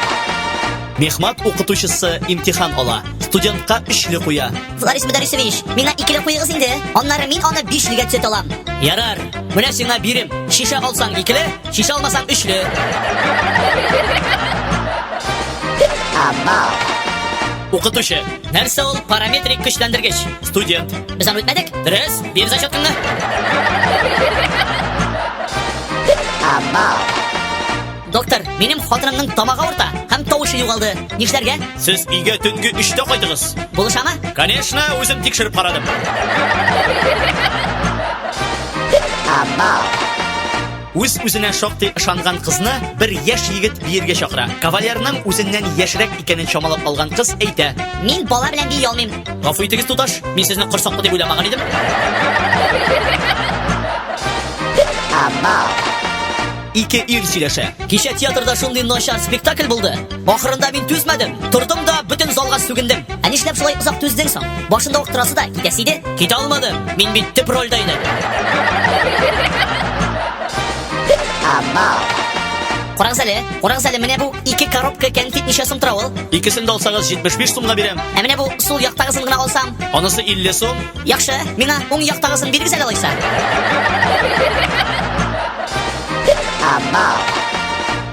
Мехмат укытучысы имтихан ала. Студентка өчле куя. Флорис Мөдәрисович, миңа икеле куегыз инде. Аннары мин аны бишлегә төзәтә алам. Ярар, менә сиңа бирем. Шиша алсаң икеле, шиша алмасаң өчле. Абау. Укытучы, Нәрсә ул параметрик көчләндергеч? Студент. Без аны үтмәдек? Дөрес. Бир зачетыңны. Доктор, минем хатынымның тамагы авырта һәм тавышы югалды. Нишләргә? Сез өйгә төнге 3-тә кайтыгыз. Булышамы? Конечно, үзем тикшереп карадым. Үз үзенә шактый ышанган кызны бер яшь егет биергә чакыра. Кавалерның үзеннән яшьрәк икәнен чамалап алган кыз әйтә. Мин бала белән бии алмыйм. Гафу итегез, туташ, мин сезне корсаклы дип уйламаган идем. Ике ир сөйләшә. Кичә театрда шундый начар спектакль булды. Ахырында мин түзмәдем. Тордым да бөтен залга сүгендем. Ә нишләп шулай озак түздең соң? Башында ук торасы да китәсе иде. Китә алмадым. Мин бит төп рольдә идем. Карагыз әле, карагыз әле, менә бу ике коробка кәнфит ничә сум тора ул? Икесен дә алсагыз 75 сумга бирәм. Ә менә бу сул яктагысын гына алсам? Анысы 50 сум. Яхшы, миңа уң яктагысын бирегез әле алайса. Абау.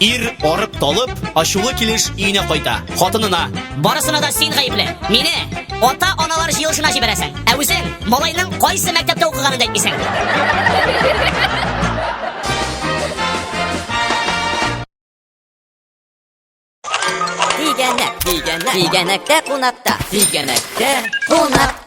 Ир, арып-талып, ачулы килеш өенә кайта. Хатынына. Барысына да син гаепле. Мине ата-аналар җыелышына җибәрәсең. Ә үзең малайның кайсы мәктәптә укыганын да әйтмисең. Тигәнәк, тигәнәк, тигәнәктә кунакта, тигәнәктә кунак.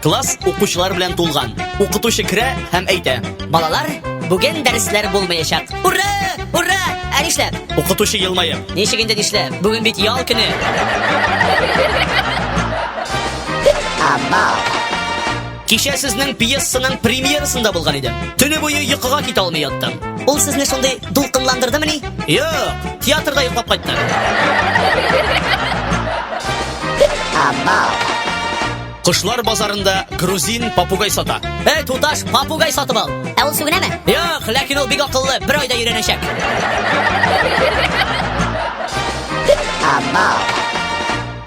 Класс укучылар белән тулган. Укытучы керә һәм әйтә. Балалар, бүген дәресләр булмаячак. Ура! Ура! Ә нишләп? Укытучы елмаеп. Ничек инде нишләп? Бүген бит ял көне. Амал. Кичә сезнең пьесаның премьерасында булган идем. Төне буе йокыга китә алмый яттым. Ул сезне шундый дулкынландырдымыни? Юк, театрда йоклап кайттым. Абау. Кошлар базарында грузин попугай сата. Эй, туташ, попугай сатып ал. Ә ул сүгенәме? Юк, ләкин ул бик акыллы, бер айда өйрәнәчәк. Абау.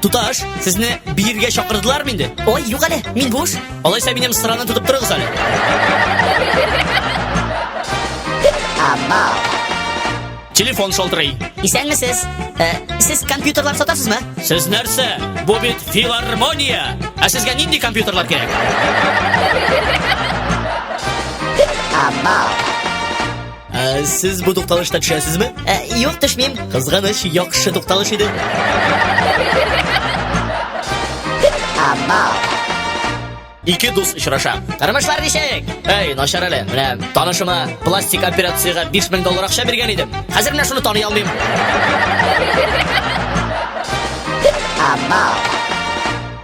Туташ, сезне биергә чакырдылармы инде? Ой, юк әле, мин буш. Алайса минем сыраны тотып торыгыз әле. Телефон шалтырый. Исәнмесез. Ә, сез компьютерлар сатасызмы? Сез нәрсә? Бу бит филармония. Ә сезгә нинди компьютерлар кирәк? Абау. Ә, сез бу тукталышта төшәсезме? Ә, юк, төшмим. Кызганыч, яхшы тукталыш иде. Ике дус очраша. Тормышлар ничек? Эй, начар әле. Менә танышыма пластик операциягә 5000 доллар акча биргән идем. Хәзер менә шуны таный алмыйм. Абау.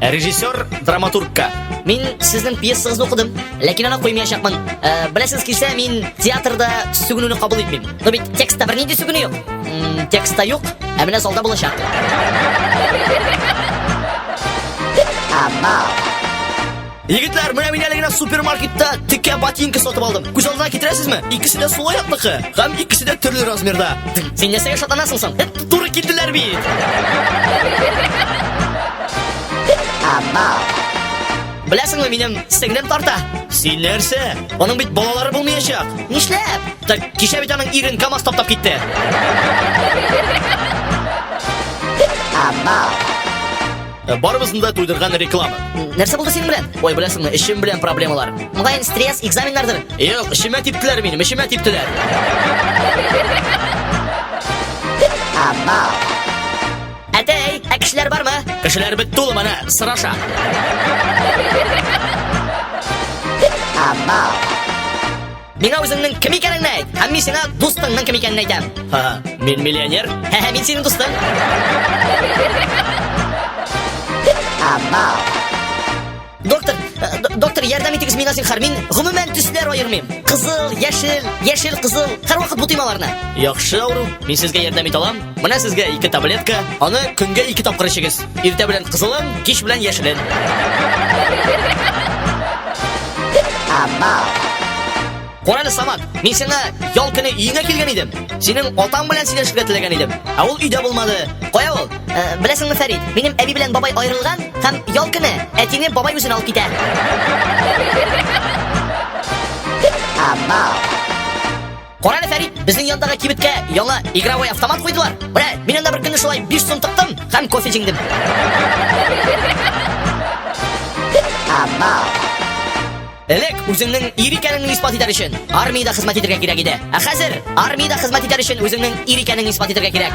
Режиссер, драматургка. Мин сезнең пьесагызны укыдым, ләкин аны куймаячакмын. Э, Беләсегез килсә, мин театрда сүгенүне кабул итмим. Но бит текстта бернинди сүгенү юк. М, Текстта юк, ә менә залда булачак. Егетләр, менә мин әле генә супермаркетта текә ботинка сатып алдым. Күз алдына китерәсезме? Икесе дә сулай атлыкы, һәм икесе дә төрле размерда. Син нәрсәгә шатланасың соң? Эт Туры килделәр бит! Беләсеңме, минем сеңлем тарта. Син нәрсә? Аның бит балалары булмаячак. Нишләп? Так, кичә бит аның ирен КАМАЗ таптап китте. Абау. Э, барыбызны да туйдырган реклама. Нәрсә булды синең белән? Ой, беләсеңме, эшем белән проблемалар. Мөгаен стресс, экзаменнардыр. Юк, эшемә типтеләр минем, эшемә типтеләр. Амал. Әтәй, ә кешеләр бармы? Кешеләр бит тулы менә, сораша. Амал. Миңа үзеңнең кем икәнеңне әйт, һәм мин сиңа дустыңның кем икәнен әйтәм. Ха, мин миллионер, һә, һә, мин синең дустың. Абау. Доктор, э, доктор, ярдәм итегез миңа зинхар. Мин гомумән төсләр аермыйм. Кызыл, яшел, яшел, кызыл. Һәрвакыт бутыйм аларны. Яхшы авыру, мин сезгә ярдәм итә алам. Менә сезгә ике таблетка, аны көнгә ике тапкыр эчегез. Иртә белән кызылын, кич белән яшелен. Корале Самат, мин сиңа ял көне өеңә килгән идем. Синең атаң белән сөйләшергә теләгән идем. Ә ул өйдә булмады. Кая ул? Ә, беләсеңме, Фәрид, минем әби белән бабай аерылган һәм ял көне әтине бабай үзен алып китә. Амал. Кара әле, Фәрит, безнең яндагы кибеткә яңа игровой автомат куйдылар. Менә, мин анда бер көнне шулай 5 сум тыктым һәм кофе җиңдем. Элек үзеңнең ир икәнеңне исбат итәр өчен армиядә хезмәт итәргә кирәк иде. Ә хәзер армиядә хезмәт итәр өчен үзеңнең ир икәнеңне исбат итәргә кирәк.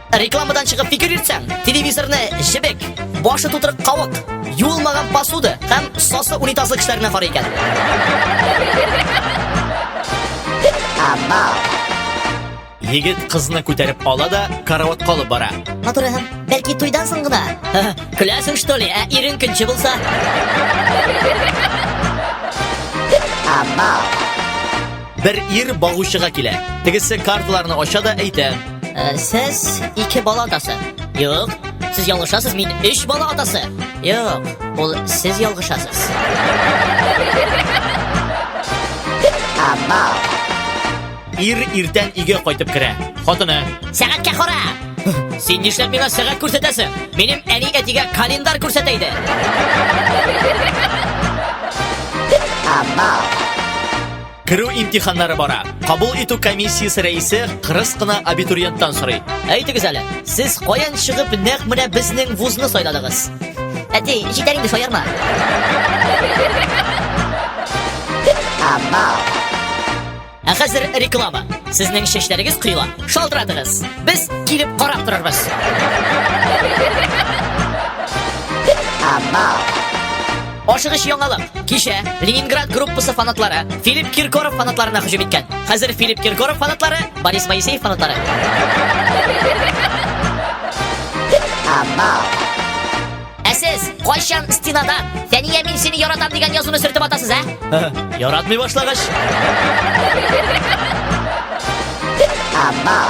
Рекламадан чыгып фикер йөртсәң, телевизорны җебек, башы тутырып кавык, юылмаган посуда һәм сосы унитазлы кешеләренә карый икән. Егет кызны күтәреп ала да караватка алып бара. Матур һәм бәлки туйдан соң гына. Көләсең что ли? Ә ирең көнче булса? Амал. Бер ир багучыга килә. Тегесе карталарны ача да әйтә. Ә, сез ике бала атасы. Юк, сез ялгышасыз, мин өч бала атасы. Юк, ул сез ялгышасыз. Ир иртән өйгә кайтып керә. Хатыны. Сәгатькә кара. Син нишләп миңа сәгать күрсәтәсең? Минем әни әтигә календарь күрсәтә иде. Абау. Керү имтиханнары бара. Кабул итү комиссиясе рәисе кырыс кына абитуриенттан сорый. Әйтегез әле, сез каян чыгып нәкъ менә безнең вузны сайладыгыз? Әти, җитәр инде шаярма. Ә хәзер реклама. Сезнең чәчләрегез коела. Шалтыратыгыз. Без килеп карап торырбыз. Амал. Ашыгыч яңалык! Кичә Ленинград группасы фанатлары Филипп Киркоров фанатларына һөҗүм иткән. Хәзер Филипп Киркоров фанатлары Борис Моисеев фанатлары. Ә сез кайчан стенада Фәния мин сине яратам дигән язуны сөртеп атасыз, ә? Яратмый башлагач. Абау.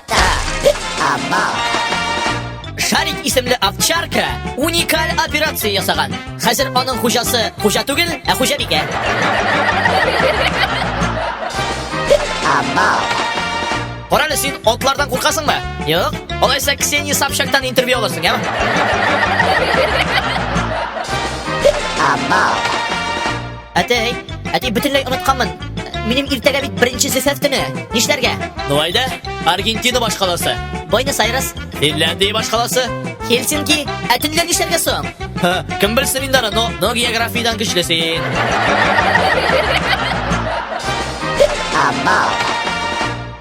Шарик исемле овчарка уникаль операция ясаган. Хәзер аның хуҗасы хуҗа түгел, ә хуҗабикә. Карале син атлардан куркасыңмы? Юк. Алайса Ксения Собчактан интервью аласың, яме? Амал. Әтәй, әти бөтенләй онытканмын. Минем иртәгә бит беренче зефәф көне. Нишләргә? Ну айда, Аргентина башкаласы. Буэнос Айрес. Финляндия башкаласы. Хельсинки. Ә төнлә нишләргә соң? Кем белсен инде аны, но, но географиядән көчле син. Амал.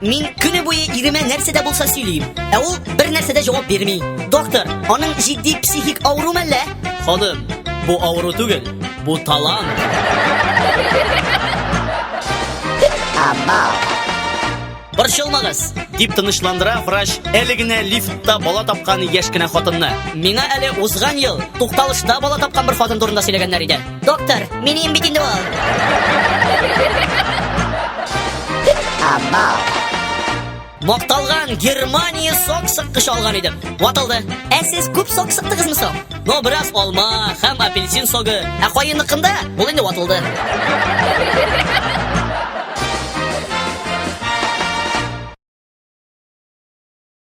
Мин көне буе иремә нәрсә дә булса сөйлим. Ә ул бер нәрсә дә җавап бирми. Доктор, аның җитди психик авыру мәллә? Ханым, бу авыру түгел, бу талант. Абау. Борчылмагыз, дип тынычландыра врач әле генә лифтта бала тапкан яшь кенә хатынны. Миңа әле узган ел тукталышта бала тапкан бер хатын турында сөйләгәннәр иде. Доктор, минем бит инде ул. Абау. Макталган Германия сок сыккыч алган идем. Ватылды. Ә сез күп сок сыктыгызмы соң? Ну, бераз алма һәм апельсин согы. Ә каенныкында ул инде ватылды.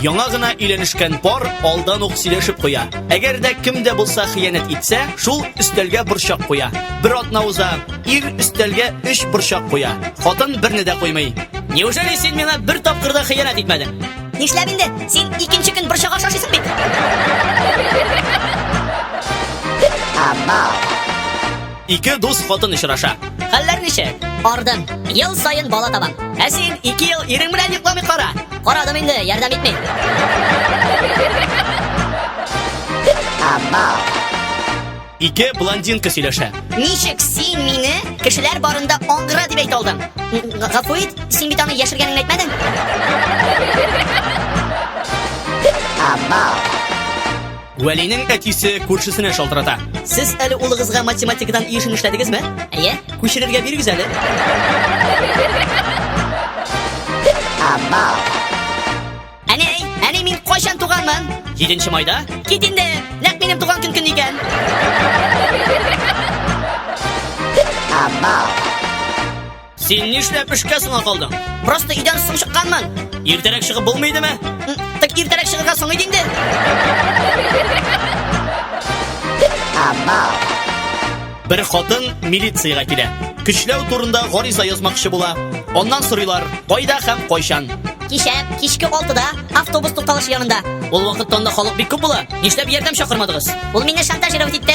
Яңа гына өйләнешкән пар алдан ук сөйләшеп куя. Әгәр дә кем дә булса хыянәт итсә, шул өстәлгә борчак куя. Бер атна уза, ир өстәлгә өч борчак куя. Хатын берне дә куймый. Неужели син миңа бер тапкыр да хыянәт итмәдең? Нишләп инде? Син икенче көн борчак ашашыйсың бит. Абау. Ике дус хатын очраша. Хәлләр ничек? Ардым. Ел саен бала табам. Ә син ике ел ирең белән йокламый кара. Карадым инде, ярдәм итми. Ике блондинка сөйләшә. Ничек син мине кешеләр барында аңгыра дип әйтә алдың? Гафу ит, син бит аны яшергәнеңне әйтмәдең. Абау. Вәлинең әтисе күршесенә шалтырата. Сез әле улыгызга математикадан еш эшләдегезме? Әйе. Күчерергә бирегез әле. Абау. Әни, әни мин кайчан туганмын? 7 майда? Кит инде. Нәкъ минем туган көн көн икән. Абау. Син нишләп эшкә соңа калдың? Просто өйдән соң чыкканмын. Иртәрәк чыгып булмый идеме? Так иртәрәк чыгарга соң иде инде. Бер хатын милициягә килә. Көчләү турында гариза язмакчы була. Аннан сорыйлар, кайда һәм кайчан. Кичә кичке 6-да автобус тукталышы янында. Ул вакытта анда халык бик күп була. Нишләп ярдәм чакырмадыгыз? Ул мине шантажировать итте.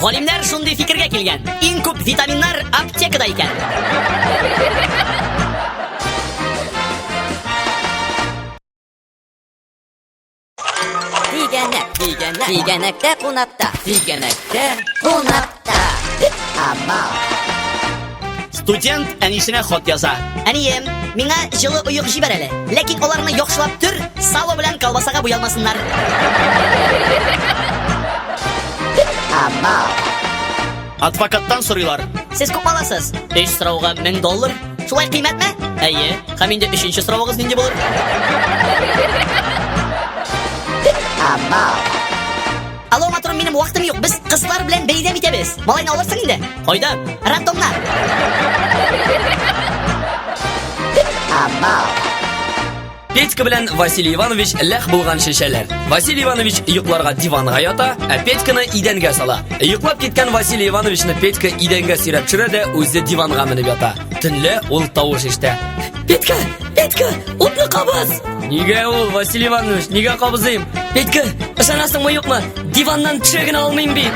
Галимнәр шундый фикергә килгән. Иң күп витаминнар аптекада икән. Тигәнәк, тигәнәк, тигәнәктә кунакта, тигәнәктә кунакта. Амал. Студент әнисенә хат яза. Әнием, миңа җылы оек җибәр әле. Ләкин аларны яхшылап төр, сало белән колбасага буялмасыннар. Адвокаттан сорыйлар. Сез күп аласыз? Өч сорауга 1000 доллар. Шулай кыйммәтме? Әйе. Һәм инде өченче соравыгыз нинди булыр? Алло, матурым, минем вакытым юк. Без кызлар белән бәйрәм итәбез. Малайны алырсың инде? Кайда? Рандомна. Петька белән Василий Иванович ләх булган шешәләр. Василий Иванович йокларга диванга ята, ә Петьканы идәнгә сала. Йоклап киткән Василий Ивановичны Петька идәнгә сөйрәп төшерә дә үзе диванга менеп ята. Төнлә ул тавыш ишетә. Петька, Петька, утны кабыз! Нигә ул, Василий Иванович, нигә кабызыйм? Петька, ышанасыңмы юкмы? Диваннан төшә генә алмыйм бит.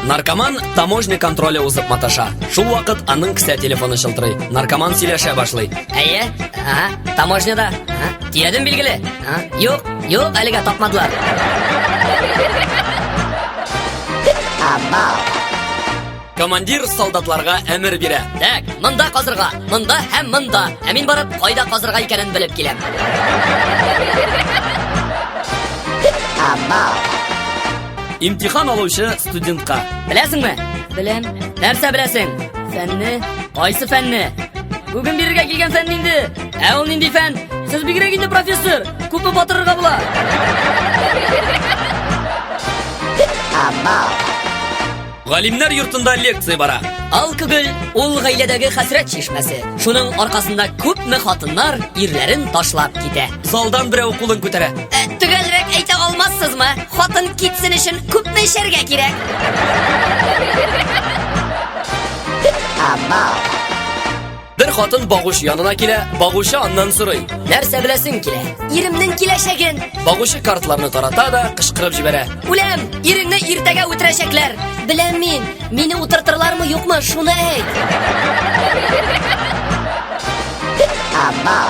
Наркоман таможня контроле узып маташа. Шул вакыт аның кесә телефоны шылтырый. Наркоман сөйләшә башлый. Әйе, ага, таможняда. Ага. Тиядем билгеле. А? Юк, юк, әлегә тапмадылар. Абау. Командир солдатларга әмер бирә. Так, монда казырга, монда һәм монда. Ә мин барып, кайда казырга икәнен белеп киләм. Абау. Имтихан алучы студентка. Беләсеңме? Беләм. Нәрсә беләсең? Фәнне. Кайсы фәнне? Бүген бирергә килгән фән инде. Ә ул нинди фән? Сез бигрәк инде профессор. Күпме батырырга була? Галимнәр йортында лекция бара. Алкоголь ул гаиләдәге хәсрәт чишмәсе. Шуның аркасында күпме хатыннар ирләрен ташлап китә. Залдан берәү кулын күтәрә. Ә, Төгәлрәк әйтә алмассызмы? Хатын китсен өчен күпме эчәргә кирәк? Абау. Бер хатын багучы янына килә, багучы аннан сорый. Нәрсә беләсең килә? Иремнең киләчәген. Багучы картларны тарата да кычкырып җибәрә. Үләм, иреңне иртәгә үтерәчәкләр. Беләм мин, мине утыртырлармы юкмы, шуны әйт. Абау.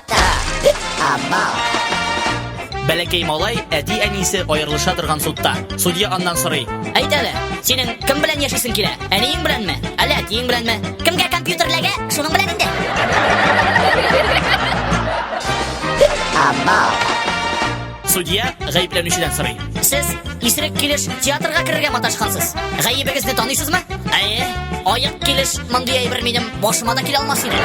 Бәләкәй малай әти-әнисе аерылыша торган судта. Судья аннан сорый. Әйт әле, синең кем белән яшисең килә? Әниең беләнме? Әллә әтиең беләнме? Кемгә компьютер эләгә, шуның белән инде. Амал. Судья гаепләнүчедән сорый. Сез исерек килеш театрга керергә маташкансыз. Гаебегезне таныйсызмы? Әйе. Аек килеш мондый әйбер минем башыма да килә алмас иде.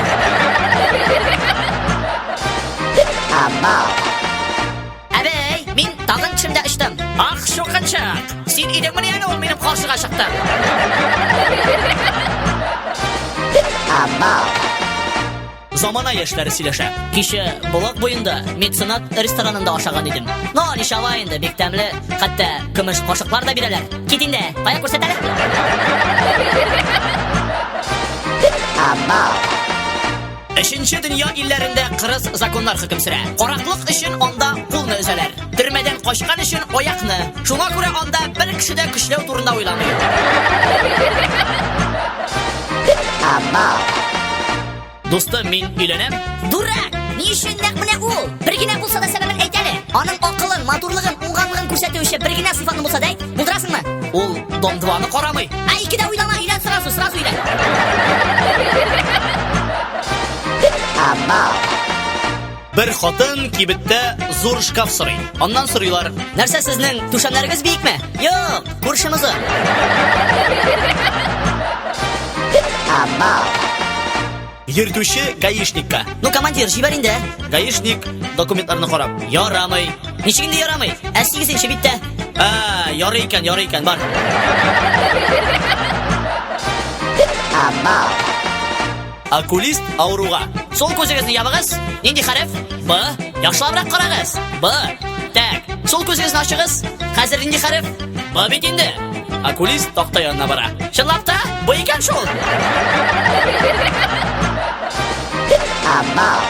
Әбәй, мин тагын төшемдә очтым. Ах, шукынчак. Син идеңмени әле ул минем каршыга чыкты? Абау. Замана яшьләре сөйләшә. Кичә Булак буенда меценат ресторанында ашаган идем. Но ничава инде, бик тәмле. Хәтта көмеш кашыклар да бирәләр. Кит инде, кая күрсәт әле. Амал. Өченче дөнья илләрендә кырыс законнар хөкем сөрә. Караклык өчен анда кулны өзәләр. Төрмәдән качкан өчен аякны. Шуңа күрә анда бер кеше дә көчләү турында уйламый. Ама. Дустым, мин өйләнәм. Дурак! Ни өчен нәкъ менә ул? Бер генә булса да сәбәбен әйт әле. Аның акылын, матурлыгын, уңганлыгын күрсәтүче бер генә сыйфатны булса да әйт. Булдырасыңмы? Ул дом 2-ны карамый. Ә икедә уйлама, өйлән сразу, сразу өйлән. Ама. Бер хатын кибеттә зур шкаф сорый. Аннан сорыйлар. Нәрсә сезнең түшәмнәрегез биекме? Юк, күршемезе. Йөртүче гаишникка. Ну, командир, җибәр инде. Гаишник документларны карап. Ярамый. Ничек инде ярамый? Ә 8 биттә. А, ярый икән, ярый икән, бар. Абау. Окулист авыруга. Сул күзегезне ябыгыз. Нинди хәреф? Б. Яхшылабрак карагыз. Б. Так. Сул күзегезне ачыгыз. Хәзер нинди хәреф? Б бит инде. Окулист такта янына бара. Чынлап та, бу икән шул. Абау.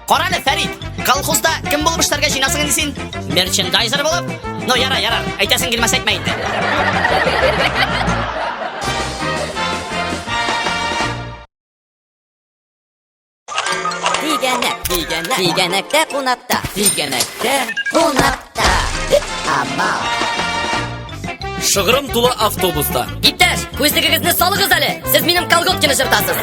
Кара әле, Фәрид, колхозда кем булып эшләргә җыенасың инде син? Мерчендайзер булып? Ну, яра, яра, әйтәсең килмәс әйтмә инде. Тигәнәк, тигәнәк, тигәнәктә кунакта, тигәнәктә кунакта. Шыгырым тулы автобуста. Иптәш, күзлегегезне салыгыз әле. Сез минем колготкины жыртасыз.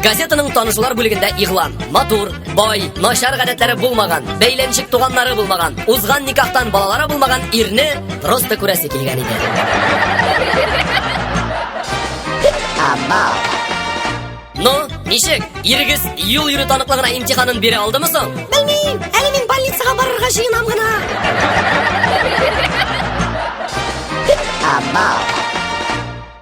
Газетаның танышулар бүлегендә игълан. Матур, бай, начар гадәтләре булмаган, бәйләнчек туганнары булмаган, узган никахтан балалары булмаган ирне просто күрәсе килгән иде. Ну, ничек? Ирегез юл йөрү таныклыгына имтиханын бирә алдымы соң? Белмим, әле мин больницага барырга җыенам гына.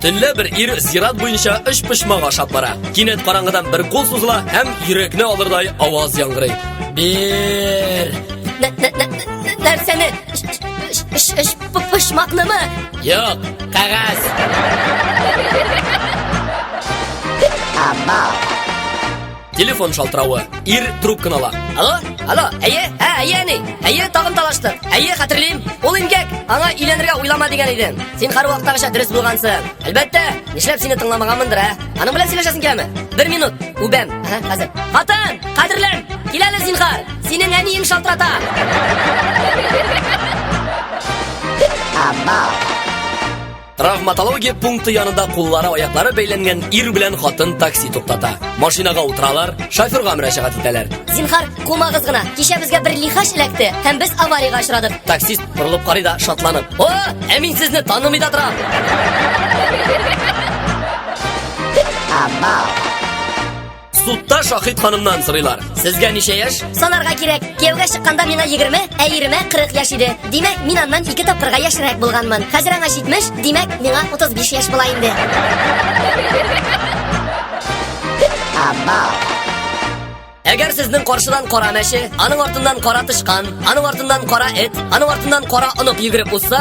Төнлә бер ир зират буенча өч почмак ашап бара. Кинәт караңгыдан бер кул сузыла һәм йөрәкне алырдай аваз яңгырый. Бер. Нәрсәне? Почмакнымы? Юк, кагаз. Амал. Телефон шалтыравы. Ир трубканы ала. Алло, алло, әйе, ә, әйе, әни, әйе, тагын талашты. Әйе, хәтерлим. Ул имгәк, аңа өйләнергә уйлама дигән идем. Син хар вакыттагыча дөрес булгансың. Әлбәттә, нишләп сине тыңламаганмындыр, ә? Аның белән сөйләшәсең киләме? Бер минут, үбәм. Ага, хәзер. Хатын, кадерлем, киләле зинхар. Синең әниең шалтырата! Травматология пункты янында куллары аяклары бәйләнгән ир белән хатын такси туктата. Машинага утыралар, шоферга мөрәҗәгать итәләр. Зинхар, кумагыз гына. Кичә безгә бер лихач эләкте һәм без авариягә очрадык. Таксист борылып карый да шатланып. О, ә мин сезне танымый да торам. Абау. Судта Шахид ханымнан сорыйлар. Сезгә ничә яшь? Санарга кирәк. Кияүгә чыкканда мина 20, ә иремә 40 яшь иде. Димәк, мин аннан ике тапкырга яшьрәк булганмын. Хәзер аңа 70, димәк, миңа 35 яшь була инде. Әгәр сезнең каршыдан кара мәче, аның артыннан кара тычкан, аның артыннан кара эт, аның артыннан кара онык йөгереп узса,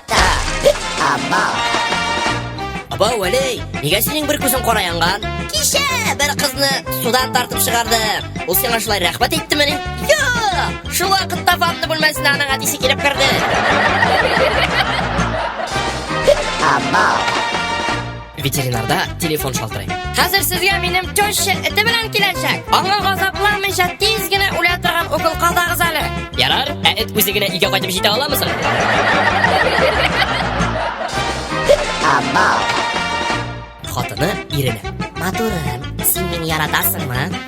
Абба. Аба Вәлей, нигә синең бер күзең кара янган? Кичә бер кызны судан тартып чыгарды. Ул сиңа шулай рәхмәт әйттеме ни? Юк! Шул вакытта ванна бүлмәсенә аның әтисе килеп керде. Абба. Ветеринарда телефон шалтырый. Хәзер сезгә минем теща эте белән киләчәк. Аңа газапламыйча тиз генә үлә торган укол казагыз әле. Ярар, ә эт үзе генә өйгә кайтып җитә аламы соң? Хатыны иренә. Матурым, син мине яратасыңмы?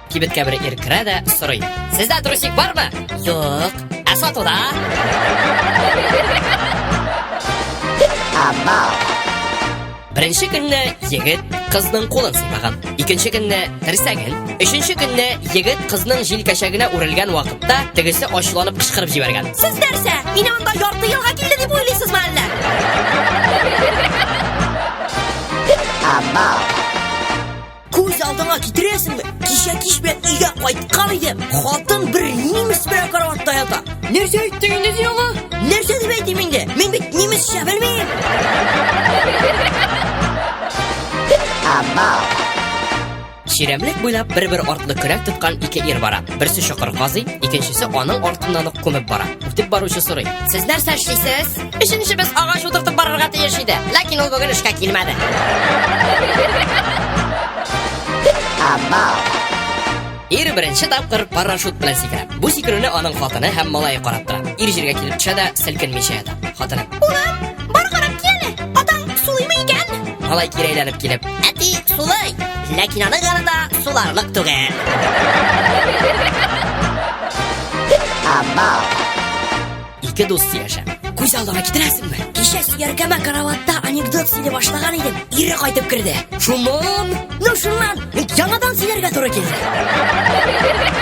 Кибеткә бер ир керә дә сорый. Сездә трусик бармы? Юк. Ә сатуда? Беренче көнне егет кызның кулын сыйпаган. Икенче көнне терсәген. Өченче көнне егет кызның җилкәчәгенә үрелгән вакытта тегесе ачуланып кычкырып җибәргән. Сез нәрсә? Мине анда ярты елга килде дип уйлыйсызмы әллә? Абау. Күз алдыңа китерәсеңме? Кичә кич белән өйгә кайткан идем. Хатын бер немец белән караватта ята. Нәрсә әйттең инде син аңа? Нәрсә дип әйтим инде? Мин бит немецчә белмим. Чирәмлек буйлап бер-бер артлы көрәк тоткан ике ир бара. Берсе чокыр казый, икенчесе аның артыннан ук күмеп бара. Үтеп баручы сорый. Сез нәрсә эшлисез? Өченчебез агач утыртып барырга тиеш иде, ләкин ул бүген эшкә килмәде. Абау. Ир беренче тапкыр парашют белән сикерә. Бу сикерүне аның хатыны һәм малае карап тора. Ир җиргә килеп төшә дә селкенмичә ята. Хатыны. Улым, бар карап киле. Атаң сулыймы икән? Малай кире әйләнеп килеп. Әти сулый. Ләкин аның янында суларлык түгел. Абау. Ике дус сөйләшә. Күз алдына китерәсеңме? Кичә сөяркәмә караватта анекдот сөйли башлаган идем. Ире кайтып керде. Шуннан? Ну шуннан. Яңадан сөйләргә туры килде.